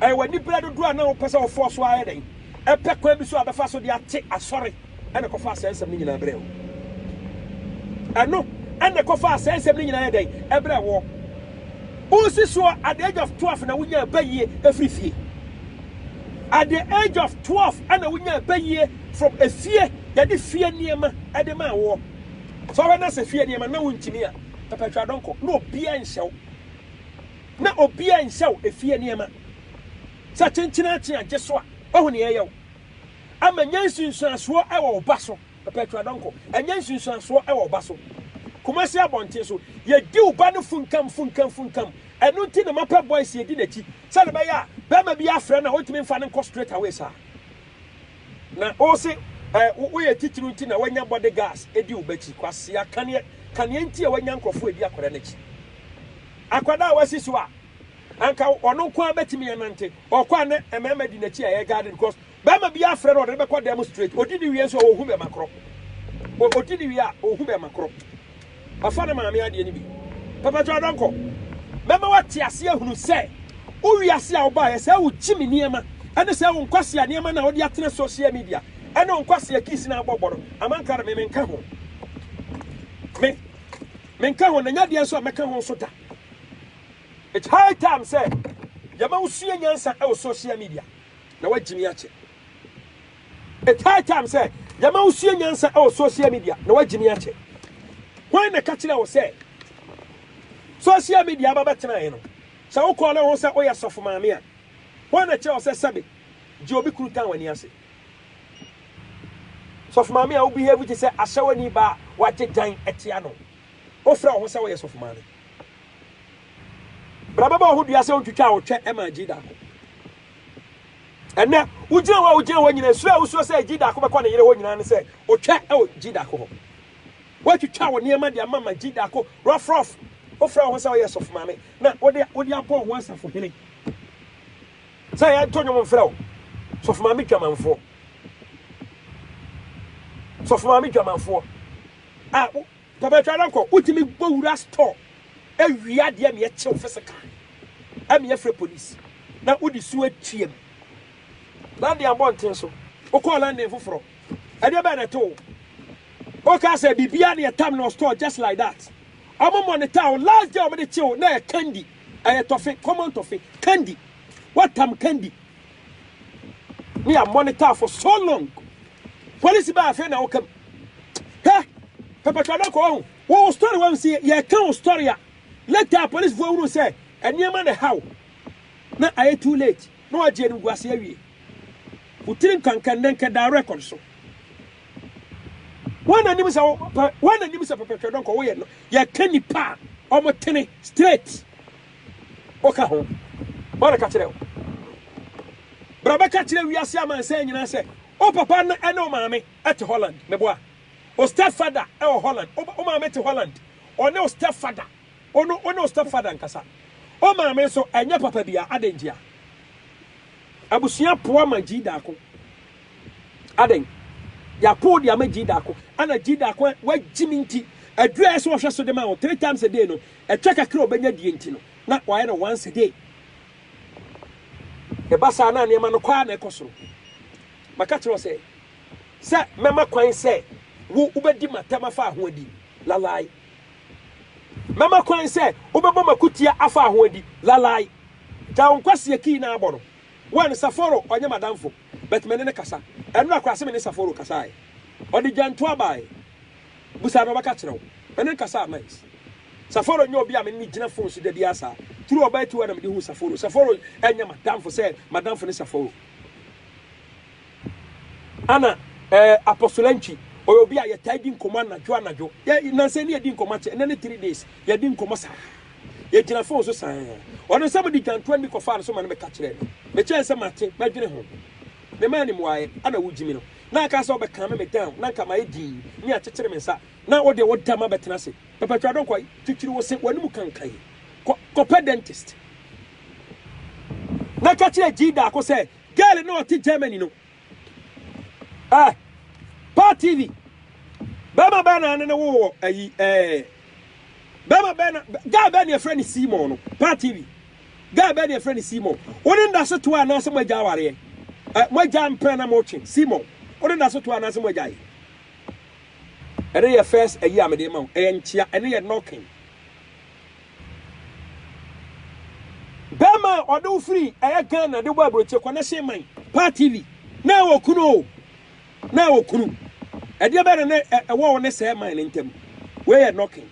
Ɛyɛ w'aniberɛ dodoɔ a na wopɛ sɛ wofɔɔ so ara yɛ dɛn pɛ kwan bi so a wobɛfa so de ate Asɔre na ɛkɔfaa saa nsɛm no nyinaa brɛɛ wo. Ɛno na ɛkɔfaa saa nsɛm no nyinaa yɛ dɛn ɛbrɛɛ woɔ. Wosi soɔ at the age of 12 na wonyaa bayie ɛfiri fie. At the age of 12 ɛna wonyaa bayie from efie yɛde fie nneɛma ɛde maa woɔ. Sɛ wobɛna sɛ fie nneɛma na wontumi a pɛpɛtwa dɔnkɔ na obiara nhyɛ wo. na obiara nhyɛ wo efie nneɛma. Sɛ kyenkyen ara kyen a, gye so a, woahu nea ɛyɛ wo. Ama nya nsunsuansoɔ wɔ wo ba so. Perpetua Donkor, Nya nsunsuansoɔ wɔ wo ba so. Kumasi abɔnten so, yɛdi wo ba no funkam funkam funkam. Ɛno nti na mapɛ boys yɛdi n'akyi sɛdeɛ ɛbɛyɛ a barima biara frɛ no a, ɔntumi mfa no nkɔ straight away saa. Na ose eh wo yɛ titiriw nti na wanya body guards edi wo bakyi kwasea kaneɛ kaneɛ nti a wanya nkorɔfoɔ edi akwadaa no akyi akwadaa a wasi so a anka ɔno nko ara bɛtumi anante ɔkɔ a na mmarima di n'akyi a ɛyɛ garden because barima bi afrɛ no ɔde no bɛkɔ dan mu straight odi ne wie nso a ɔhu bɛma korɔ odi ne wie a ɔhu bɛma korɔ. Wafa ne maame adeɛ no bi. Papa Joe Adɔnkɔ, mɛma woate aseɛ ahunu sɛ wo wiase a wobaeɛ, sɛ wo gyimi nneɛma, ɛne sɛ wo nkwasea nneɛma no a wode atena social media, ɛne wo nkwasea kiss no a wobɔ bɔ no, amankra no, me menka ho. Me, menka ho, na nyɛ adeɛ nso a mɛka ho nso da. It's high time sɛ yɛma wosua nyansa wɔ social media, na woagyimi akyɛ. It's high time sɛ yɛma wosua nyansa wɔ social media na wagye me akyɛ. Hwan na ɛka kyerɛ wo sɛ social media aba bɛtenaeɛ no, sɛ wokɔɔ na wɔn sɛ woyɛ sɔfo maame a, hwan na ɛkyerɛ wo sɛ sɛbe gye obi kunu tan w'ani ase? Sɔfo maame a wobehave te sɛ ahyɛwani ba a wagye dan atia no, wofrɛ wo ho sɛ woyɛ sɔfo maame. Bra bɛbɔ wo ho dua sɛ wontwitwaa wo twɛ maa gye daako. Ɛnnɛ, wogyina hɔ a wogyina hɔ nyinaa, suro a wosuro sɛ Gyidaako bɛkɔ ne yere hɔ nyinaa ne sɛ otwa wɔ Gyidaako hɔ. Woatwitwa wo nneɛma de ama ma Gyidaako rɔfrɔf. Wofrɛ wo ho sɛ woyɛ sɔfomaame na wode abɔ wo ho asafohene sɛ yɛnto nnwom mfrɛ wo. Sɔfomaame dwamanfoɔ. Sɔfomaame dwamanfoɔ a wo. Papa twa na nkɔ, wotumi bɔ wura store wie adeɛ ma yɛkye wo physical ma yɛfrɛ police na wode su atua mu. London abɔnten so, wokɔɔ London foforɔ, ɛdeɛ bɛn na ɛto wo? Wokaa sɛ biribiara na yɛtam no wɔ store just like that. Wɔn monitor wo, last day wɔde kye wo na ɛyɛ candy, ɛyɛ tɔfe, common tɔfe, candy. Woatam candy na yɛamonitor for so long Police baa afei na ɔka mu. Hwɛ, pɛpɛtɔ no kɔ wahu. Wo wo story wahu sɛ yɛka wo story a, later a police foɔ hunu sɛ nneɛma na ɛha wo. Na ayɛ too late. Na wagye animguase awie. Wo tiri nkanka nnɛ nka da record so. Wɔn na nim sɛ wɔn na nim sɛ pɛpɛtɔ no kɔ woyɛ no. Yɛka nipa a wɔn tene straight. Ɔka ho. Ɔna ka kyerɛ wo. Bra bɛka kyerɛ wiase amansan nyinaa sɛ wo papa ne ne wo maame te Holland. Meboa. Wo stepfather wɔ Holland. Wo maame te Holland. Ɔne wo stepfather. Wo no, wone wo stepfather nkasa. Wo maame nso, ɛnyɛ papa bia. Adɛn ntia? Abusua poa ma Jida ko. Adɛn? Yɛapow de ama Jida ko. Ɛna Jida ko a, woagyimi nti, aduru a ɛsɛ sɛ wɔhwɛ so de ma wo three times a day no, Ɛtwa kakra a ɔbɛnya die nti no, na wayɛ no once a day. Ɛba saa na nneɛma no kɔ ara na ɛkɔ soro. Maka kyerɛ wo sɛ, sɛ mɛma kwan sɛ wo wobɛdi m'atɛm afa ahoɔdi, lalai. Mɛma kwan sɛ wobɛbɔ m'akutia afa ahoɔdi, lalai. Gya wo nkwasea kii na abɔ no. One, Saforo ɔnyɛ m'adamfo, but me ne no kasa. Ɛnora koraa se me ne Saforo kasaeɛ. Ɔde gyantoa baeɛ. Busa na ɔbɛka akyerɛ wo. Mene no kasaa mines. Saforo nyɛ obi a mene no gyina phone so dabiaa saa. Through ɔbaa tiwa na mede huu Saforo. Saforo nyɛ m'adamfo sɛ m'adamfo ne Saforo. Ana eh, Apostle Antwi, ɔyɛ obi a yɛtaa di nkɔmmɔ anadwo anadwo. Yɛ, nnansa ni yɛadi nkɔmmɔ akyɛ, nnɛ ne three days, yɛadi nkɔmmɔ saa. Yɛgyina phone so saa. Ɔno sɛ mede dwantoa nni kɔfaa no so ma no bɛka kyerɛɛ me. Mekyɛɛ sɛ mate, mɛdwene ho. Memaa no mmuaeɛ, ana wogyimi no. Na aka sɛ ɔbɛkame me down na nka mayɛ dinn ne akyekyere me nsa na wo deɛ wo da ma bɛtena ase pɛpɛ twa dɔnkɔ yi twitwiri wo se w'anim kanka yi kɔ kɔpɛ dentist na ka kyerɛ G daako sɛ girl na ɔte Germany no eh pa TV bɛma bɛɛ na ne ne wo wɔ ayi eh bɛma bɛɛ na guy bɛɛ na yɛfrɛ ne Seymour no pa TV Guy bɛn na yɛfrɛ no Simon? Wo ne no da so toa anaasɛ moagya awareɛ? Ɛ, moagya mpena na motwe? Simon, wo ne no da so toa anaasɛ moagyae? Ɛno yɛ first ayi a mede rema wo. Ɛyɛ nkyea. Ɛno yɛ knocking. Bɛrima a ɔde wo firi ɛyɛ Ghana de bɔ aburokyire kɔ n'ɛhyɛn man paa TV na ɛwɔ kunu o na ɛwɔ kunu ɛdeɛ bɛyɛ na ɛwɔ wo ne sɛɛ man ne ntam wei yɛ knocking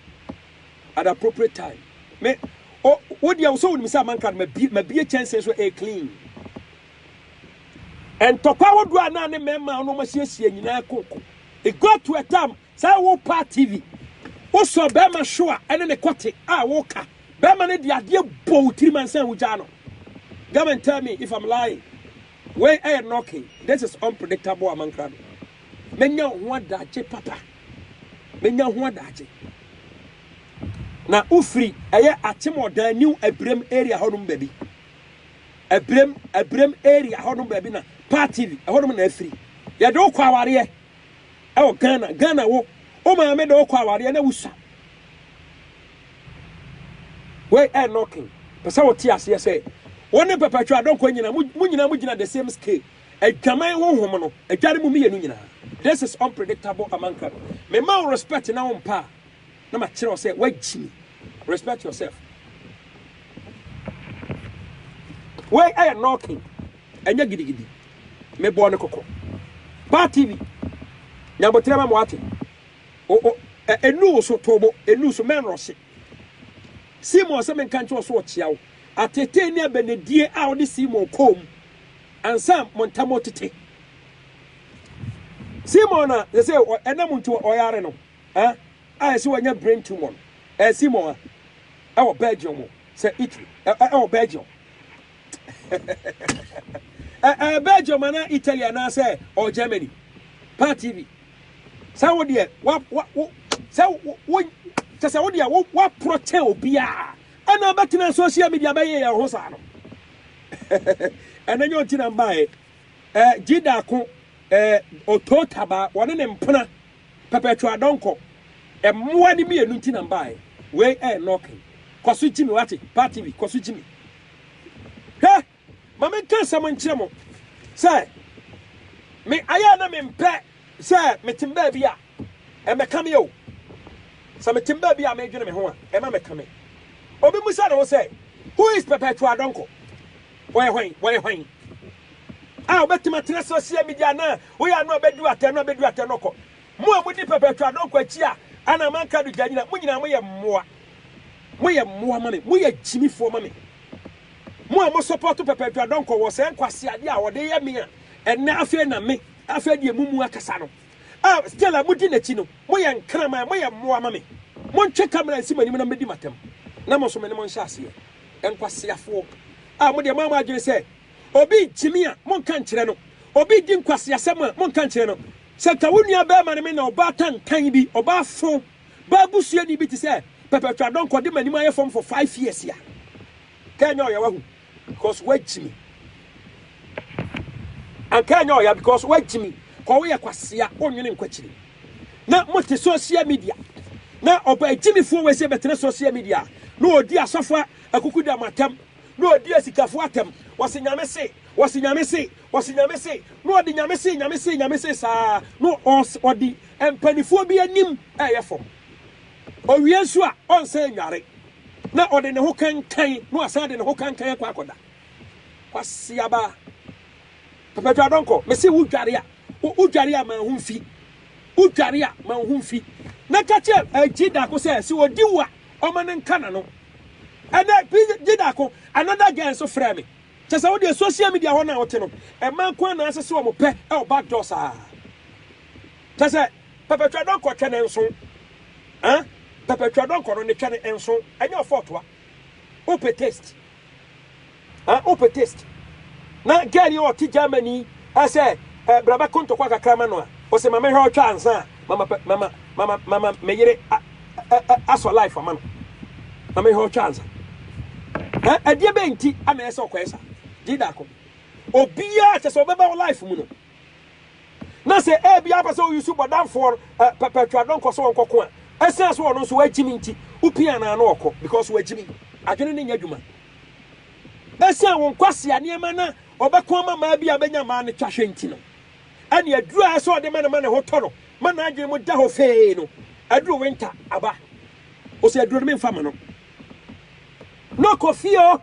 at appropriate time me o wo deɛ sɛ wonim sɛ amanka no mabie kyɛnsee so a clean ntɔkwa wodoɔ a na ne mmarima a wɔn asiesie nyinaa koko it got to a time sɛ wo pa tv wosɔ bɛrima show a ɛne ne kɔte a woka bɛrima no de adeɛ bɔ wo tirim ansa wogyaa no come and tell me if I'm lying wei ɛyɛ knocking this is unpredictable amanka no Mɛnya wo ho adagye papa. Mɛnya wo ho adagye. Na wofiri ɛyɛ Akyemɔdan new Abirem area hɔ nom baabi. Abirem, Abirem area hɔ nom baabi na Paa TV ɛhɔ nom na afiri. Yɛde wo kɔ awareɛ ɛwɔ Ghana. Ghana wo, wo maame de wo kɔ awareɛ na wusua. Wei ɛyɛ knocking. Pɛ sɛ wote aseɛ sɛ wo ne Perpetua Donkor nyina, mo nyina mo gyina the same scale. Adwaman honhom no agya no mu mmienu nyinaa. This is unpredictable amanka no. Me ma wo respect na wo mpa a, na ma kyerɛ wo sɛ wagyi me. Respect yourself. Wei ɛyɛ knocking, ɛnyɛ gidigidi. Me bɔɔ ne kɔkɔ. Ba TV, nyabotere ma mo ate. O, o, ɛ, enu wo so, tobo, enu so, mɛn rɔhye. Seymour sɛ menka nkyerɛ wo so ɔkyea wo. Atetee ne abɛnedie a ɔde Seymour kɔɔ mu. Ansa mo ntam retete. Simon a yɛsɛ ɛna mu nti ɔyare no a yɛsɛ wanya brain tumor no, ɛyɛ Simon a ɛwɔ Belgium o, sɛ Italy, ɛwɔ Belgium. Ɛyɛ Belgium anaa Italy anaasɛ ɔwɔ Germany. Paa TV, sɛ wo deɛ, sɛ wo, kyɛ sɛ wo deɛ, woaporɔ kyɛn obiara. Ɛna ɔbɛtenaa social media bɛyɛ yɛn ho saa no. Ɛna nyɛ ɔnti na mbaeɛ. Ɛɛ Jida ako ɛɛ Otoo Tabaa wɔne ne mpena Perpetual Donkor mmoa ne mmienu nti na mbaeɛ. Wei ɛyɛ knocking. Kɔ so gyi me wate, Paa TV kɔ so gyi me. Hwɛ! Ma menka asɛm nkyerɛ mo sɛ, me ayɛ na mempɛ sɛ metem baabi a, ɛmmɛka me o. Sɛ metem baabi a medwene me ho a, ɛma meka me. Obi mmisa ne ho sɛ, Who is Perpetual Donkor? Ɔyɛ hwan? Wɔyɛ hwan? A, wobɛtem atena social media na woyɛ ano a bɛduru atɛn no a, bɛduru atɛn no kɔ. Mo a mudi pɛpɛɛtɔ a Donkor akyi a anaa manka do Gyanyina, mo nyinaa moyɛ mmoa. Moyɛ mmoa ma me. Moyɛ gyimifoɔ ma me. Mo a mosɔpɔɔto pɛpɛɛtɔ a Donkor wɔ saa nkwaseadeɛ a ɔde yɛ me a ɛnnɛ afei na me, afei deɛ momu akasa no a still a modi n'akyi no, moyɛ nkraman, moyɛ mmoa ma me. Montwe camera nsi m'anim na mɛdi m'atɛm na mo nso me ne mo nhyɛ aseɛ. Nkwaseafoɔ a mo deɛ moayɛ mo adwene sɛ obi gyimi a monka nkyerɛ no, obi di nkwaseasɛm a monka nkyerɛ no, Sɛ anka wo nua barima ne me na ɔbaa tantan bi, ɔbaa fo, baa busuani bi te sɛ Perpetual Donkor de m'anim ayɛ fam for five years a, anka ɛnyɛ ɔya wahu because wagyi me. Anka ɛnyɛ ɔya because wagyi me kɔ woyɛ kwasea wonwene nkwakyiri. Na mote social media na ɔbaa gyimifoɔ wei sɛ bɛtena social media na ɔdi asɔfo akuku da mo atɛm. na ɔdi asikafoɔ atɛm, ɔse Nyame se, ɔse Nyame se, ɔse Nyame se, na ɔde Nyame se, Nyame se, Nyame se saa ara, na ɔde mpanifoɔ bi anim ɛɛyɛ fam. Ɔwie nso a, ɔnsan nnware, na ɔde ne ho kankan, na wasan de ne ho kankan akɔ akɔda. Kwasi aba, pɛpɛtwa dɔnkɔ, mese wo dware a, wo dware a ma ho mfi, wo dware a ma ho mfi, na ka kyerɛ agyi dako sɛ, sɛ ɔdi wo a, Ɔma no nka n'ano. Ɛnɛ bi gye daako another girl nso frɛ me. Kyɛ sɛ wo deɛ social media hɔ no a wote no, mmaa nko ara na ase sɛ wɔn pɛ wɔ back door saa. Kyɛ sɛ pɛpɛtwa dɔnkɔ twɛ ne nso. Huh? Pɛpɛtwa dɔnkɔ no ne twɛ ne nso. Ɛnyɛ ɔfɔɔtoa. Wopɛ taste. Ah, wopɛ taste. Na girl yi a ɔte Germany yi ah, sɛ eh, bra bɛko ntɔkwa kakra ma no a, ɔsɛ ma mɛhwɛ ɔtwa ansa a, mama pɛ, mama, mama, mama me yere a, a, a, asɔ life ama no. Ma mɛhwɛ ɔtwa ansa. Eh, ɛdeɛ bɛn nti ama ɛyɛ sɛ ɔkɔɛ saa? Gye daako. Obiara kyɛ sɛ ɔbɛba wo life mu no, na sɛ ebia wopɛ sɛ woyusu bɔdamfoɔ no eh, pɛpɛtwa dɔnkɔ sɛ ɔnkɔko a ɛsiane sɛ ɔno nso wagyimi nti wopia anaa na ɔkɔ because wagyimi adwene ne nyɛ adwuma ɛsiane wo nkwasea nneɛma na ɔbɛko ama maa bi a bɛnya maa no twa hwɛ nti no ɛne aduru a ɛsɛ ɔde ma no ma ne ho tɔ no ma n'adwene mu da hɔ fee no aduru winter aba ɔsɛ aduru no memfa ma no na ɔkɔ fie o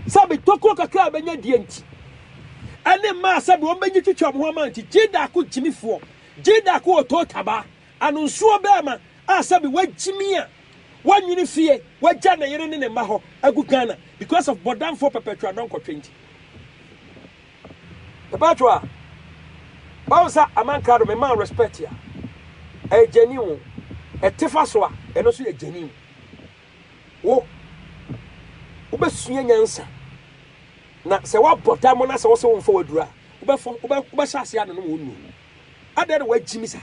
Sɛbe tokuro kakra a bɛnya die nti, ɛne mmaa sɛbe wɔn bɛnyi twitwi wɔn ho ama nti, Gyidaako gyimifoɔ, Gyidaako wɔ Tootabaa, Anonsuo bɛɛma a sɛbe wagyimi a wanwene fie, wagya ne yere ne ne mma hɔ agu Ghana because of bɔdamfoɔ pɛpɛtwa dɔnkɔtwe nti. Mepaatwo a, wahu sɛ Aman Krado me maa respect a, ɛyɛ genuine o, ɛtefa so a, ɛno nso yɛ genuine. Wo, wobɛsua nyansa, na sɛ woabɔ dam na sɛ wose womfa w'aduro a, wobɛfɔ, wobɛ, wobɛhyɛ aseɛ anonom wo nnuro. Adɛn na woagyimi saa?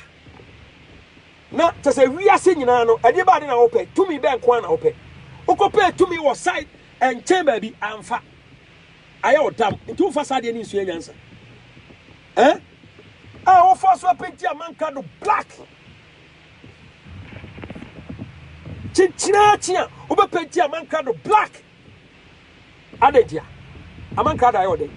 Na kyɛ sɛ wiase nyinaa no, ɛdeɛ bɛade na wopɛ, tumi bɛn nko ara na wopɛ. Wokɔpɛɛ tumi wɔ side nkyɛn baabi, amfa. Ayɛ wo dam, nti womfa saa adeɛ no nsua nyansa. Eh? A wofa so apenti amanka do black. Kyekyere akyi a wobɛpenti amankrado black. Adɛn nti a? Amankrado ayɛ ɔdɛn?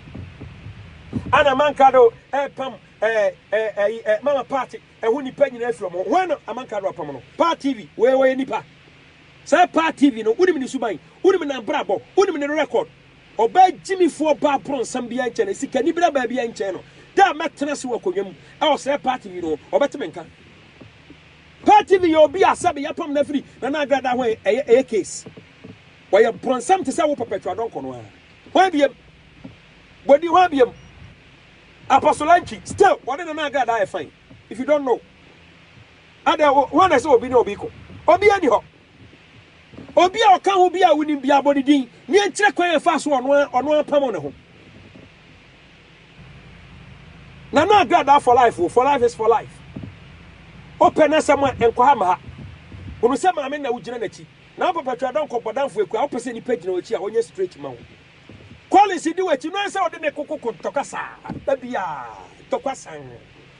Ana amankrado ɛrepam ɛɛ ɛɛ ɛɛ mama party ɛho nipa nyinaa afiri wɔn ho. Wɔn na amankrado apam no. Paa TV wɔyɛ wɔyɛ nipa. Saa Paa TV no wonim ne suban, wonim n'abrabɔ, wonim ne record. Ɔbaa gyimifoɔ baa bronsam biara nkyɛn na sikanibere baa biara nkyɛn no, da a mɛtena ase wɔ akonnwa mu wɔ saa party yi no ho, ɔbɛte me nka. Party no yɛ obi a sɛbe yɛapam no afiri Nana Agradaa ho a ɛyɛ case. Ɔyɛ bronsam te sɛ wo Perpetua Donkor no ara. Hwan biam? Bɔdi hwan biam? Apostle Antwi, still ɔne Nana Agradaa yɛ fine. If you don't know, adɛn hwan na ɛsɛ obi ne obi ko? Obiara ni hɔ. Obi a ɔka ho bi a wonim biara bɔ ne din, na yɛnkyerɛ kwan a ɛfaa so ɔno ara ɔno ara pamoo ne ho. Nana Addo Adaa for life o, for life is for life. Wopɛ n'asɛm a, nkɔ ha ma ha. Hunu sɛ maame na wogyina n'akyi. Na wo papa twadɔ nkɔ bɔdamfo akua, wopɛ sɛ nnipa gyina w'akyi a, ɔnyɛ straight ma wo. Collins di w'akyi, no ara sɛ ɔde ne koko ko ntɔkwa saa, ba biara, ntɔkwa sann.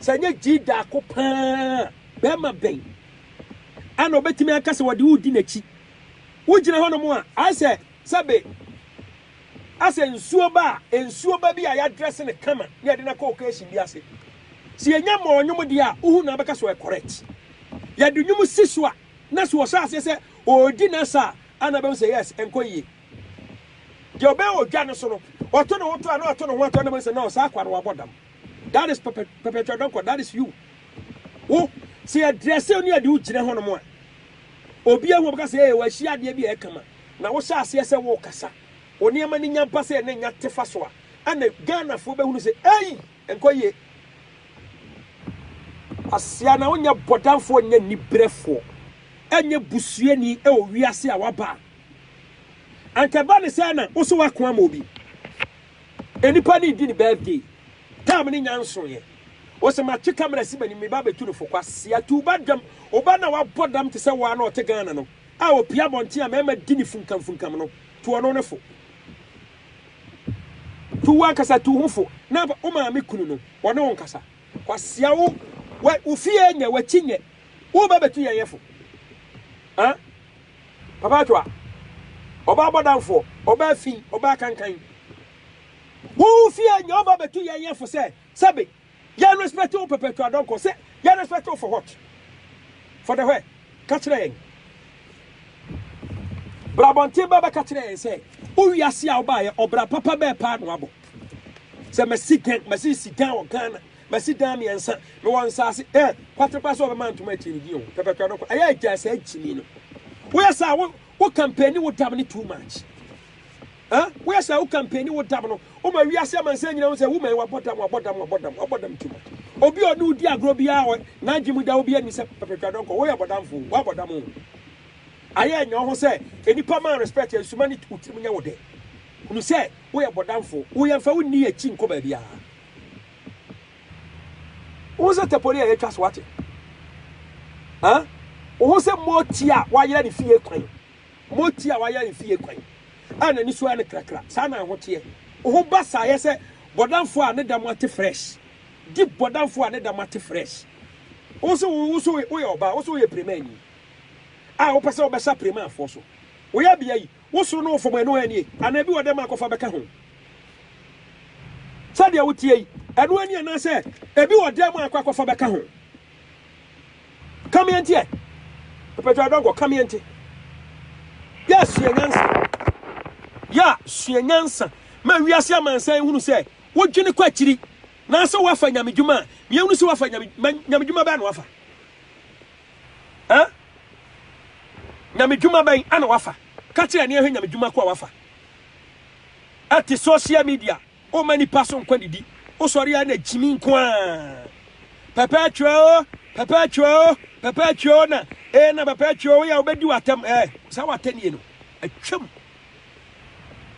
Sɛ ɛnyɛ gyidi daako pɛ ara a, barima bɛn na obetumi aka sɛ wɔde wo di n'akyi? Wugyina hɔnom a, ayɛ sɛ sɛbe asɛ nsuo ba a, nsuo ba bi a yɛadrɛse no kama na yɛde no akɔ occasion bi ase. Sɛ yɛnya mmɔɔ nnwom deɛ a, wohu na abɛka sɛ ɔyɛ correct. Yɛde nnwom si so a, na sɛ ɔhyɛ aseɛ sɛ ɔredi n'asa a, ana bɛhu sɛ yes, ɛnkɔ yie. Deɛ ɔbɛyɛ odwa no so no, ɔto ne ho to a na ɔto ne ho ato a na bɛhu sɛ no, saa akwa no wabɔ dam. That is pɛpɛ pɛpɛ twa dɔkɔ that is you wo sɛ yɛ drɛsɛ ne yɛde wo gyina hɔ nom a obi ahu ɔbɛka sɛ ee wɔahyia adeɛ bi a ɛka ma na wohyɛ aseɛ sɛ wokasa wo nneɛma no nya ba sɛ ne nya tefa so a ɛna Ghanafoɔ bɛhunu sɛ ei nkɔ yie asia na wonyɛ bɔdamfoɔ nyɛ nibrɛfoɔ ɛnyɛ busuani ɛwɔ wiase a waba a anka ɛba ne sɛ na wo so wako ama obi Nipa no redi ne birthday. Time no nya nsoeɛ. Ose matwe camera si m'anim, meba abɛtu no fo. Kwasea tu ba dam. Wo ba no a wabɔ dam te sɛ wo ara na ɔte Ghana no a ɔpue abɔnten a mmarima di no funkamfunkam no, tu ɔno no fo. Tu wo ankasa tu wo ho fo na wo maame kunu no, ɔne wo nkasa. Kwasea wo, wo fie nyɛ, w'akyi nyɛ. Woreba abɛtu yɛn yɛ fo? Huh? Papa Atwa, ɔbaa bɔdamfoɔ, ɔbaa fi, ɔbaa kankan. Wo wo fie nyɛ ɔbaa bɛtu yɛn yɛ fo sɛ sɛbe yɛn respect wo Papa Atwa dɔnkɔ sɛ yɛn respect wo for what? For the where? Ka kyerɛ yɛn. Bra abɔnten bɛ bɛka kyerɛ yɛn sɛ wo wiase a wobaa yɛ ɔbra papa bɛɛ paa na wabɔ. Sɛ masi gan, masi si gan wɔ Ghana. Masi dan mmiɛnsa. Mewɔ nsase. Hwɛ, kwate koraa sɛ wɔbɛma ntoma akyiri no, gyin o, pɛpɛtɔ no koraa. Ɛyɛ a gyaa saa gyimi no. Woyɛ saa a, wo, wo kampani wo dam no too much. Huh? Woyɛ saa a, wo kampani wo dam no. Woma wiase amansan nyinaa hu sɛ woman wabɔ dam, wabɔ dam, wabɔ dam, wabɔ dam too much. Obi a ɔne wo di agorɔ biara wɔ n'adwene mu da obi anim sɛ pɛpɛtwa dɔnkɔ, woyɛ bɔdamfo, woabɔ dam o. Ayɛ nya wo ho sɛ nnipa ma respect a, nsuma ne wo tirim nyɛ wo dɛ. Hunu sɛ woyɛ bɔdamfo, wo yɛmfa wo nni akyi nkɔ baabiara. Wohu sɛ tapoli a yɛatwa so ate? Huh? Wohu sɛ moti a wayera ne fie kwan, moti a wayera ne fie kwan, a n'ani so ayɛ no krakra, saa na ɛho teɛ. Woho ba saa yɛ sɛ bɔdamfo a ne dam ate fresh, di bɔdamfo a ne dam ate fresh. Wohu sɛ wo so woyɛ ɔbaa, wo so woyɛ premani, a wopɛ sɛ wobɛsa premafoɔ so. Woyɛ bea yi, Wo soro ne wo fam ɛno ara nie, anaa bi wɔ dɛm a kɔfa bɛka ho? Sɛdeɛ wo teɛ yi, ɛno ara nie anaa sɛ ɛbi wɔ dɛm a kɔ akɔfa bɛka ho? Ka meɛ nteɛ. Mpatwa adɔnkɔ, ka meɛ nte. Yɛ sua nyansa. Yɛ sua nyansa ma wiase amansan nhunu sɛ wo dwene kɔ akyiri na sɛ wo afa nyame dwuma a, meɛ nhunu sɛ wo afa nyame, nyame dwuma bɛɛ na wo afa. Huh? Nyame dwuma bɛn ana wafa? Ka kyerɛ ani ahwɛ nyame dwuma ko a wafa ɛte social media oma nipa so nkwa didi osɔre a na gyimi nko a pɛpɛ atwa o pɛpɛ atwa o pɛpɛ atwa o na e na pɛpɛ atwa o yɛ wobɛdi watam ɛ saa watanie no atwam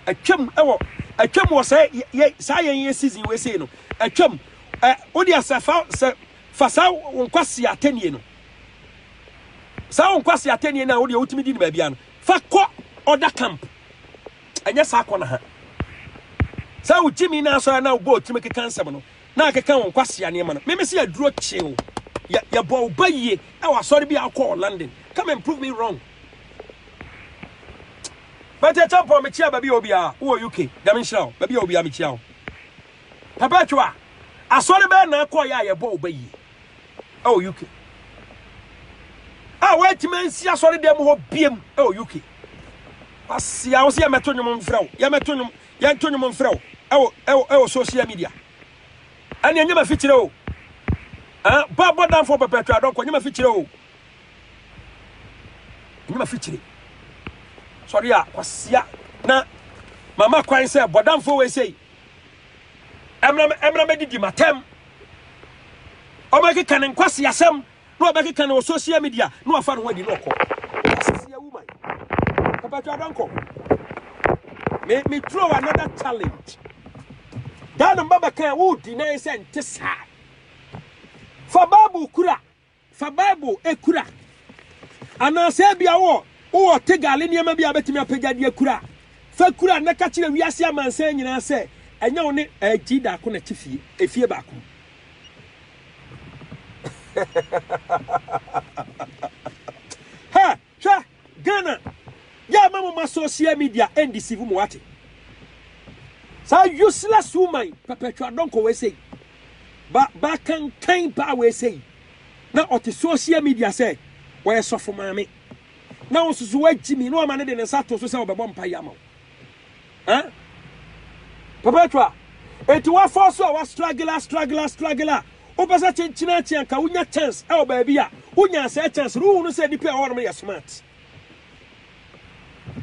atwam ɛwɔ atwam wɔ sɛ yɛ saa yɛn yɛ season wei sei no atwam ɛ wode asɛ fa sɛ Fa saa wo nkwasea atɛnnie no, saa wo nkwasea atɛnnie no a wodeɛ wotumi di no baabia no, fa kɔ ɔda camp. Ɛnyɛ saa kɔ na ha. Saa wo gyimi no asɔre na wobɔ otiri mu keka nsɛm no, na akeka wo nkwasea nneɛma no. Meme sɛ aduro kyeo. Yɛ yɛbɔ wo ba yie ɛwɔ asɔre bi a wokɔ wɔ London. Come and prove me wrong. Bɛtɛ champɔn mekyia baabi a obiara wowɔ UK. Nyame nhyira wo. Baabi a obiara mekyia wo. Perpetua, asɔre bɛyɛ na akɔyɛ a yɛbɔ wo ba yie ɛwɔ UK. A wɔatumi ansi asɔre dɛm hɔ biem ɛwɔ UK. Wasi a wo sɛ yɛmɛto nnwom mfrɛ wo, yɛmɛto nnwom, yɛnto nnwom mfrɛ wo ɛwɔ ɛwɔ ɛwɔ social media. Ɛne ɛnyɛ ma fikyerɛ o. Ah, ba bɔ danfo Perpetua Donkor, ɛnyɛ ma fikyerɛ o. Ɛnyɛ ma fikyerɛ. Sɔre a kwasia na mama kwan sɛ bɔ danfo wei sei. ɛmmra mmɛdidi m'atɛm. Ɔbɛkeka ne nkwaseasɛm na ɔbɛkeka no wɔ social media na wafa ne ho adi na ɔkɔ. Asisi awu man. Papa twa adɔnkɔ. Me me throw another challenge. Daa no mba bɛka wo deny sɛ nte saa. Fa Bible kura. Fa Bible kura. Anaasɛ ebia wowɔ wowɔ Tegale nneɛma bi a wobɛtumi apagya de akura a, fa kura na ka kyerɛ wiase amansan nyinaa sɛ ɛnyɛ wo ne Agyi Daako na ɛte fie, efie baako mu. Ha! Hwɛ Ghana yɛ ma mo ma social media ɛndisivu mo wate saa useless woman pɛpɛtwa dɔnkɔ wei sei ba ba kankan baa wei sei na ɔte social media sɛ wɔyɛ sɔfo maame na wo nso so wagyimi na wama ne de ne nsa to so sɛ ɔbɛbɔ mpa yi ama wo. Eh? Perpetua, enti woafɔɔ so a wa struggle a struggle a struggle a wopɛ sɛ kyenkyene akye anka wonya chance ɛwɔ baabi a wonyaa saa chance no wohunu sɛ nnipa a ɛwɔ hɔ nom yɛ smart.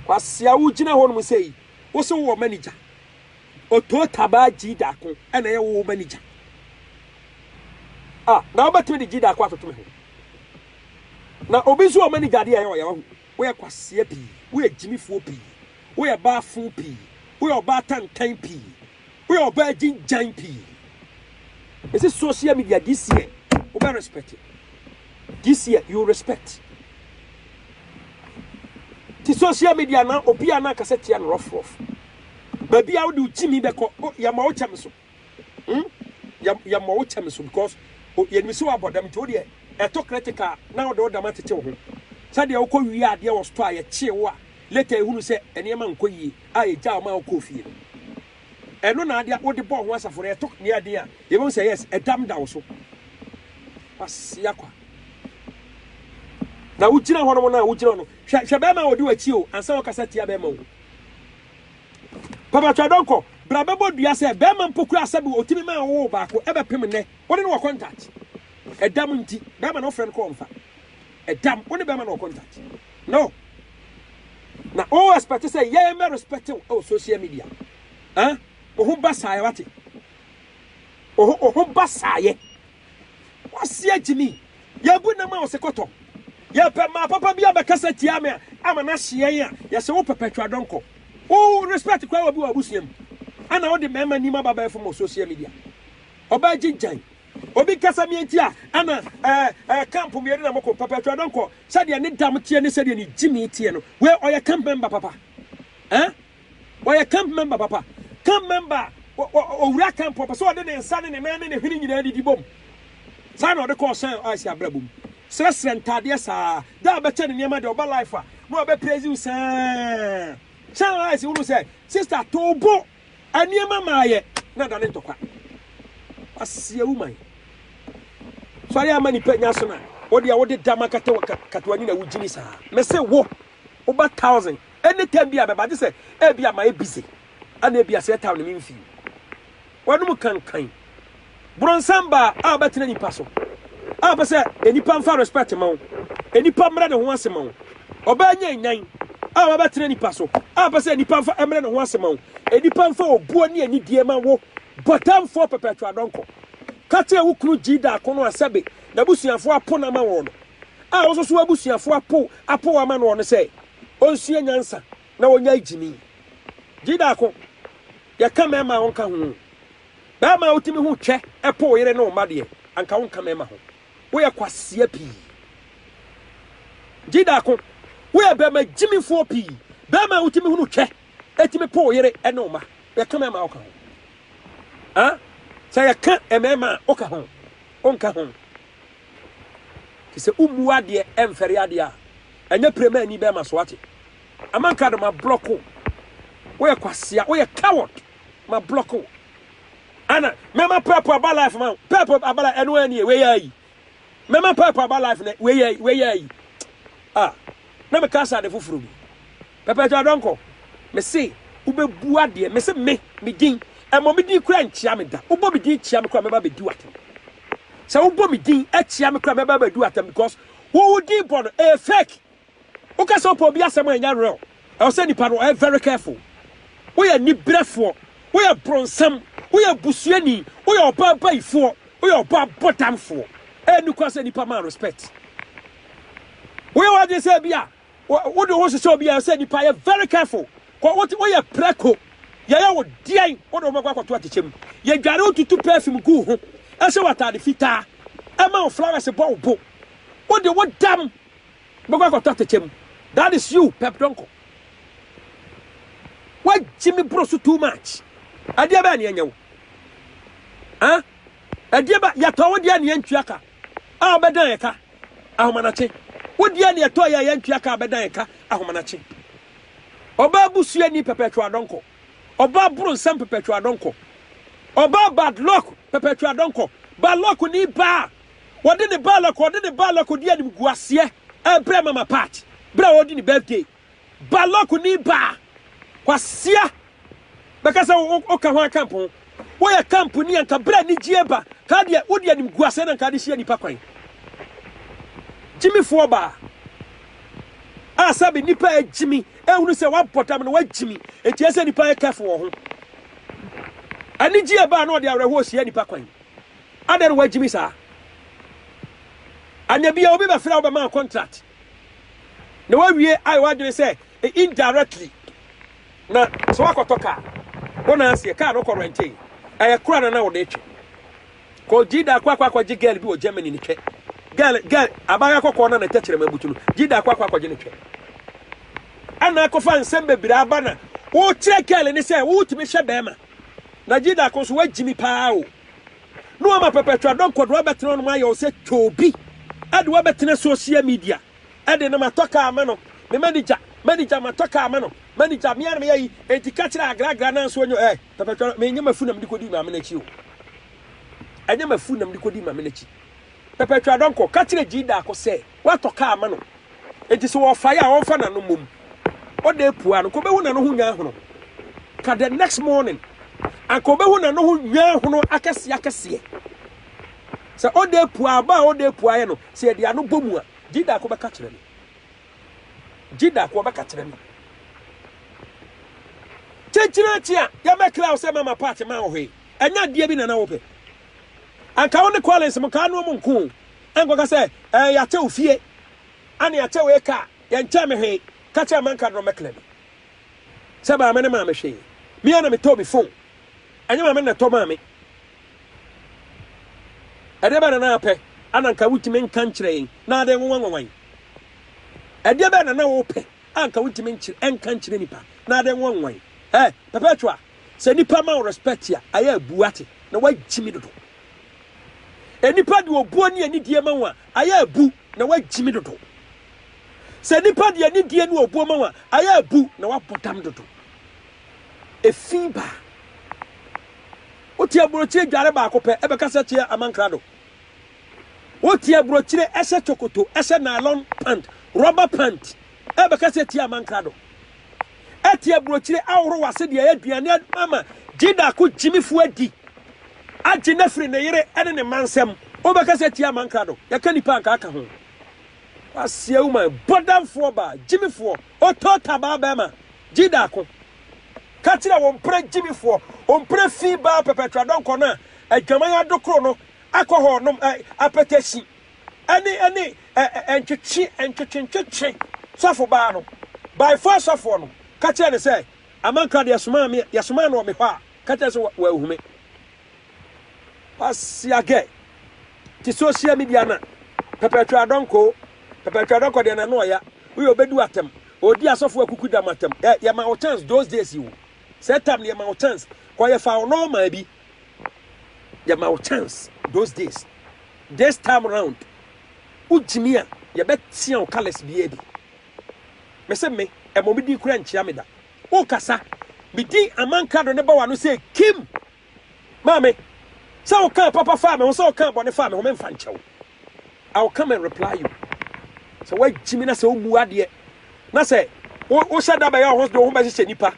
Kwasea wogyina hɔ nom sɛ yi wo se wowɔ manager otoo tabaa gyidaako ɛna ɛyɛ wo manager a na wobɛtumi de gyidaako atoto me ho na obi nso wɔ manager adeɛ a ɛyɛ ɔyɛ wahu Woyɛ kwasea pii. Woyɛ gyimifoɔ pii. Woyɛ baafo pii. Woyɛ ɔbaa tantan pii. Woyɛ ɔbaa agyingyan pii. Mese social media this year wobɛ respect. This year you respect. Ti social media na obi a na akasa tia no rough rough. Baabi a wode wo gyimi bɛkɔ yɛma wo kyɛm so. Hmm yɛ yɛ mɔ wo kyɛ me so because o yɛ nim sɛ wa bɔ dam nti wo deɛ ɛtɔ critical a na wo de wo dam atete wo ho sɛ deɛ wo kɔ wie adeɛ wɔ store a yɛ kyee wo a later yɛ hunu sɛ nneɛma nkɔ yie a yɛ gyaa wo ma wo kɔɔ fie no ɛno na adeɛ wo de bɔ ho asafo no yɛ tɔ nea ɛden a yɛ bɛ hu sɛ yes ɛdam da wo so wase akwa na wo gyina hɔ nom na wo gyina hɔ no hwɛ hwɛ bɛrima a ɔdi w'akyi o ansa wɔkasa tia bɛrima o. Papakyɛw dɔnkɔ bra bɛbɔ dua sɛ bɛɛma mpo koraa sɛbi otimi maa wowoo baako ɛbɛpem nnɛ wone no wɔ contact ɛdam nti bɛɛma na wofrɛ no kɔ ɔmfa ɛdam wone bɛɛma no wɔ contact no na wo expect sɛ yɛɛ mɛ respect wo ɛwɔ social media ah oho ba saayɛ wate oho oho ba saayɛ Kwasia Gyimi, Yɛabu nam a ɔse kɔtɔ. Yɛpɛ mmaa papa bi abɛkasa tia me a ama no ahye yɛn a yɛse wo perpetual dɔnkɔ. Wo respect koraa obi wɔ w'abusua mu ɛna wode mmarima nim aba abɛɛfo ma wɔ social media. Ɔbaa gyigyan. Obi kasa me nti a ɛna ɛɛ ɛɛ camp mmienu na moko. Perpetual dɔnkɔ sɛdeɛ ne dam teɛ ne sɛdeɛ ne gyimii teɛ no wei ɔyɛ camp member papa. Ɛɛ. Ɔyɛ camp member papa. Camp member a ɔwura camp ɔpɛ sɛ ɔde ne nsa ne ne nan ne ne hwene nyinaa didi bom. Saa na ɔde kɔ ɔhyɛn a ɔasi abrabɔ mu. Srɛsrɛ ntaadeɛ saa. Da a bɛkyɛ ne nneɛma deɛ ɔba life a na ɔbɛ praise wo saa. Hyɛn a ɔasi wunu sɛ sister to bo nneɛma ma ayɛ na da ne ntɔkwa. Aseɛ wo man. Sɔre ama nipa nya so na ɔde a wode dama kata kata wani na wogyini saa. Mese wo. Woba thousand any time bi a bɛba gye sɛ ebi a mayɛ busy ana ebi a sɛ ɛtaw ne me mfi mu. W'anom kankan. Bronsam ba a ɔbɛtena nipa so a ɔpɛ sɛ enipa nfa respect ma wo, enipa mmrɛ ne ho ase ma wo. Ɔbaa nyanyan a ɔbɛtena nipa so a ɔpɛ sɛ nipa nfa mmrɛ ne ho ase ma wo, enipa nfa obuo ne anidie ma wo. Bɔtanfoɔ pɛpɛɛtwa dɔnkɔ. Ka kyerɛ wo kunu Gyidaako no a sɛbe n'abusuafoɔ apo no ama wɔn no. a wosusuw abusuafo apow apow ama noɔ no sɛ onsua nyansa na onyae gyimi. Gyidaako, yɛka mɛma a ɔnka ho o. Bɛɛma a wotumi ho twɛ po wo yere ne wo mma deɛ, anka wonka mɛma ho. Woyɛ kwasea pii. Gyidaako, woyɛ bɛɛma gyimifoɔ pii. Bɛɛma a wotumi ho no twɛ tumi po wo yere ne wo mma. Yɛka mɛma a ɔka ho. Aa, sɛ yɛka mɛma a ɔka ho, ɔnka ho. Te sɛ wommu adeɛ ɛmfɛre adeɛ a ɛnyɛ pire ma ani bɛma so wate. Amankrado ma block wo. Woyɛ kwasea, woyɛ coward. Ma block wo. Ana mɛma purple aba life ma wo. Purple aba life ɛno ɛni wei yɛ ayi. Mɛma purple aba life na wei yɛ wei yɛ ayi. Ah, na me kasa de foforo bi. Pɛpɛɛpɛ Adɔnkɔ, me se wobɛbua deɛ me se me, me din, ɛmmɔ me din koraa nkyia me da, wobɔ me din kyia me koraa mɛba abɛdi wo atɛm, sɛ wobɔ me din kyia me koraa mɛba abɛdi wo atɛm because wo wo din bɔ no ɛyɛ fake, woka sɛ wopɛ obi asɛm a ɛnyɛ real, ɛwɔ sɛ nipa no ɔyɛ very careful, woyɛ aniberɛfoɔ, woyɛ bronsam, woyɛ busuani, woyɛ ɔbaa abayifoɔ, woyɛ ɔbaa abɔdamfoɔ, ɛyɛ nokora sɛ nipa ma respect, woyɛ w'adwene sɛ bi a Wode wo ho hyehyɛ obi a ɛsɛ nipa yɛ very careful kɔ wote woyɛ prɛko yɛyɛ wo deɛn wode wo bɛkɔ akɔto akyekyɛ mu yɛdware wotutu perfume gu ho ɛhyɛ w'atade fitaa ɛma wo flowers bɔ wo bo wode wo dam bɛkɔ akɔto akyekyɛ mu that is you pep donko wagye me boro so too much adeɛ bɛɛ ne ɛnyɛ wo ah adeɛ ba yɛtɔ wo deɛ ne ɛntwia ka A ɔbɛdan yɛn ka ahomanakye. Wo deɛ neɛ ɛtɔ yɛ a yɛntua ka a ɔbɛdan yɛn ka ahomanakye. Ɔbaa busuani perpetual adɔnkɔ. Ɔbaa bronsam perpetual adɔnkɔ. Ɔbaa bad luck perpetual adɔnkɔ. Bad luck ni baa a ɔde ne bad luck ɔde ne bad luck ɔdi animguaseɛ ɛbrɛ mama part berɛ a ɔredi ne birthday. Balɔk ni baa kwasia bɛka sɛ woka hwan camp ho woyɛ camp ni anka berɛ anigyeɛ ba kaa deɛ wode animguaseɛ na nka de hyia nipa kwan gyimifoɔ baa a sɛbe nipa agyimi ɛhunu sɛ wabɔ dam no wagyimi enti ɛsɛ nipa yɛ careful wɔ ho anigyeɛ baa na ɔde awerɛhoɔ hyia nipa kwan adɛn no wagyimi saa anyabia obi bɛfrɛ wobɛma contract Na wawie ayɛ w'adwene sɛ indirectly na sɛ wakɔtɔ kaa wo na aseɛ kaa no kɔ rɛntee ɛyɛ kora na na wode twe kɔ gyida akɔ akɔ akɔgye girl bi wɔ Germany ne twɛ girl girl abaayewa kɔkɔɔ na ne tɛkyerɛma butu no gyida akɔ akɔ akɔgye ne twɛ ɛna akɔfa nsɛm bebree aba na wokyerɛ girl ne sɛ wotumi hwɛ bɛrima na gyida akɔ nso wagyimi paa o na wɔama pɛpɛtwa dɔnkɔ de wo abɛtena hɔ nom ayɛ wo sɛ toobi de wo abɛtena social media de no matɔ kaa ama no me manager manager matɔ kaa ama no manager mea na meyɛ yi enti ka kyerɛ agragra no anso ɔnyɛ eh pɛpɛtwa no menyɛ mafu na mede kɔdi maame no akyi o ɛnyɛ mafu na mede kɔdi maame no akyi pɛpɛtwa dɔnkɔ ka kyerɛ gyi daako sɛ Watɔ kaa ama no, enti sɛ ɔrefae a ɔmfa n'ano mmom. Ɔda apua no, anka obehu n'ano ho nnwanhono ka the next morning. Anka obehu n'ano ho nnwanhono akɛseɛ akɛseɛ. Sɛ ɔda apua, aba a ɔda apua yɛ no, sɛ yɛde ano bɔ mu a, gye da ko bɛka kyerɛ me. Gye da ko ɔbɛka kyerɛ me. Kyekyere akyi a, yɛbɛkra wo sɛ mama part ma wo hwee. Ɛnyɛ adeɛ bi na na wopɛ. Anka wo ne Collins mo kaa no ɔmo nko o. Ɛnkɔka sɛ, 'Ɛɛ, yɛakyɛ wo fie, ɛnna yɛakyɛ wo eka a, yɛnkyɛɛ me hwee. Ka kyerɛ Manka Dɔm Mɛkla bi sɛ maame no maa me hwee. Me ara na metɔɔ me fon. Ɛnyɛ maame no na ɛtɔ maa me. Ɛdeɛ bɛn na na apɛ a na anka wontumi nka nkyerɛ yɛn na ade nwanwa nwanwa yɛn? Ɛdeɛ bɛn na na wopɛ a anka wontumi nkyerɛ nka nkyerɛ nipa na ade nwanwa nwanwa yɛn? Ɛɛ, Perpetua, sɛ nipa ma wo respect a, ayɛ a bu ate na woagyimi dodo. Nnipa de obuo ne anidie ma wo a, ayɛ abu na woagyimi dodo. Sɛ nnipa de anidie ne obuo ma wo a, ayɛ abu na woabɔ dam dodo. Efi ba. Wote aburokyire dware baako pɛ, ɛbɛka sɛ kyeɛ amankrado. Wote aburokyire ɛhyɛ chokoto, ɛhyɛ nylon pant, rubber pant, Ɛbɛkasa atia aman krado, atia burokyire ahorow ase de ayɛ aduane ama Gyedaako gyimifo adi, agye no afiri ne yere ne ne mma nsam. Wobɛkasa atia aman krado, yɛka nnipa a anka aka ho. Waseɛ wo man, bɔdamfoɔ baa, gyimifoɔ, otoota baa bɛrima, Gyedaako. Ka kyerɛ wɔn mpere gyimifoɔ, wɔn mpere fi baa pɛpɛtradɔnkɔ no a adwaman adokoro no akɔ hɔ nom, ɛ, apɛtɛsi. ɛne ɛne ɛ ɛ ntwetwe ntwetwe ntwetwe sɔfo baa no by four sɔfoɔ no ka kyerɛ ne sɛ amankra deɛ somaa me yɛ somaa no wɔ me hɔ a ka kyerɛ sɛ wɔ ahume wasiagɛ te social media na pɛpɛtwɛ adɔnkɔ pɛpɛtwɛ adɔnkɔ deɛ na no ɔya woyɛ obedu atam odi asɔfo akuku dam atam ɛ yɛ ma wo chance those days yi wo sɛ tam ne yɛ ma wo chance kɔ yɛ fa wo nɔɔma bi Yɛma wo chance those days this time round wo gyimi a yɛbɛ tea wo colours biaa bi me se me ɛmɔ me din kura nkyia me da wo kasa me din amankrado ne ba wano se kim maame sɛ wo kaa papa faa me ho sɛ wo kaa bɔne faa me ho me nfa nkyɛw. I will come and reply you. Sɛ wagyi me na sɛ womu adeɛ na sɛ wohyɛ da bɛyɛ ɔho de wo ho bɛhyehyɛ nipa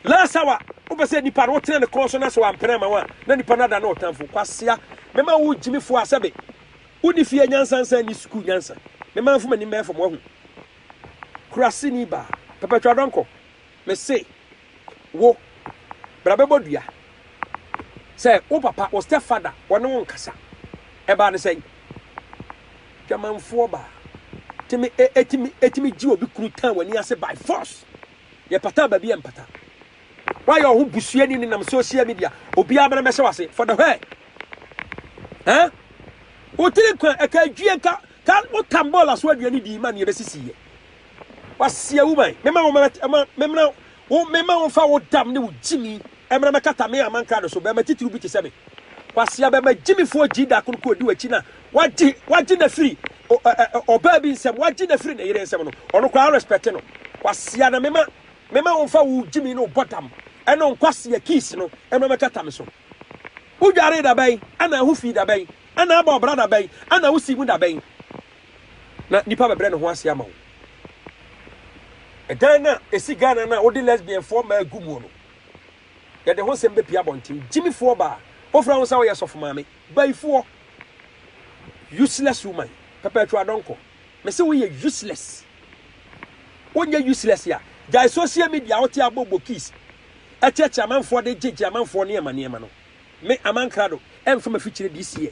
last hour wopɛ sɛ nipa no wotena ne kɔn so na sɛ wampene ama wo a na nipa no ada na ɔtamfo kwasea mɛma wo gyimifoɔ a sɛbe woni fie nyansa nsa ni sukuu nyansa mɛma mfoma nim bɛyɛ fam wahu kurase ni baa pɛpɛtwa dɔnkɔ mese Wo, bra bɛbɔ dua. Sɛ wo papa, wo step father, ɔne wo nkasa. Ɛbaa no sɛn? Dwamanfoɔ baa. Tumi, e, etumi, etumi gye obi kunu tan w'ani ase by force. Yɛ pataa baabi a ɛmpata. Woayɛ wo ho busuani ne nam social media. Obiara bɛna bɛhyɛ w'ase. For the where? Ɛn? Wo tiri nkwa, ɛka adwie, ka, ka, wo tam bɔɔla so aduane dii ma ne ɛbɛsisiiɛ. Wɔasia wo man. Mema wo mmara ma memmra wo, mema wo mfa wo dam ne wo gyimi mmra mmɛkata me aman krado so. Barima titiriw bi te sɛ me, kwasea barima gyimifoɔ gyee da koro kɔɔ di w'akyi na wagye wagye no afiri o, ɛ, ɛ, ɔbaa bi nsam, wagye no afiri ne yere nsam no, ɔno koraa worespɛte no. Kwasea na mema mema wo mfa wo gyimi ne wo bɔdam ne wo nkwasea keys no mmra mmɛkata me so. Wodwaree da bɛn? Ɛna ɛho fii da bɛn? Ɛna abɔ ɔbra da bɛn? Ɛna wosii mu da bɛn? Na nnipa bɛbrɛ ne ho ase ama wo. Ɛdan no a ɛsi Ghana no a wode lesbianfoɔ mmaa agu muo no, yɛde ho nsɛm bɛpue abɔnten. Gyimifoɔ baa, wofrɛ wo sɛ woyɛ sɔfo maame. Bayifoɔ. Useless woman. Perpetual adɔnkɔ. Mese woyɛ useless. Wonyɛ useless a, gyae social media a wote abɔ bokis ɛkyeɛkye amanfoɔ de gyegye amanfoɔ nneɛma nneɛma no. Me, Aman Krado, ɛmfa m'afikyire this year.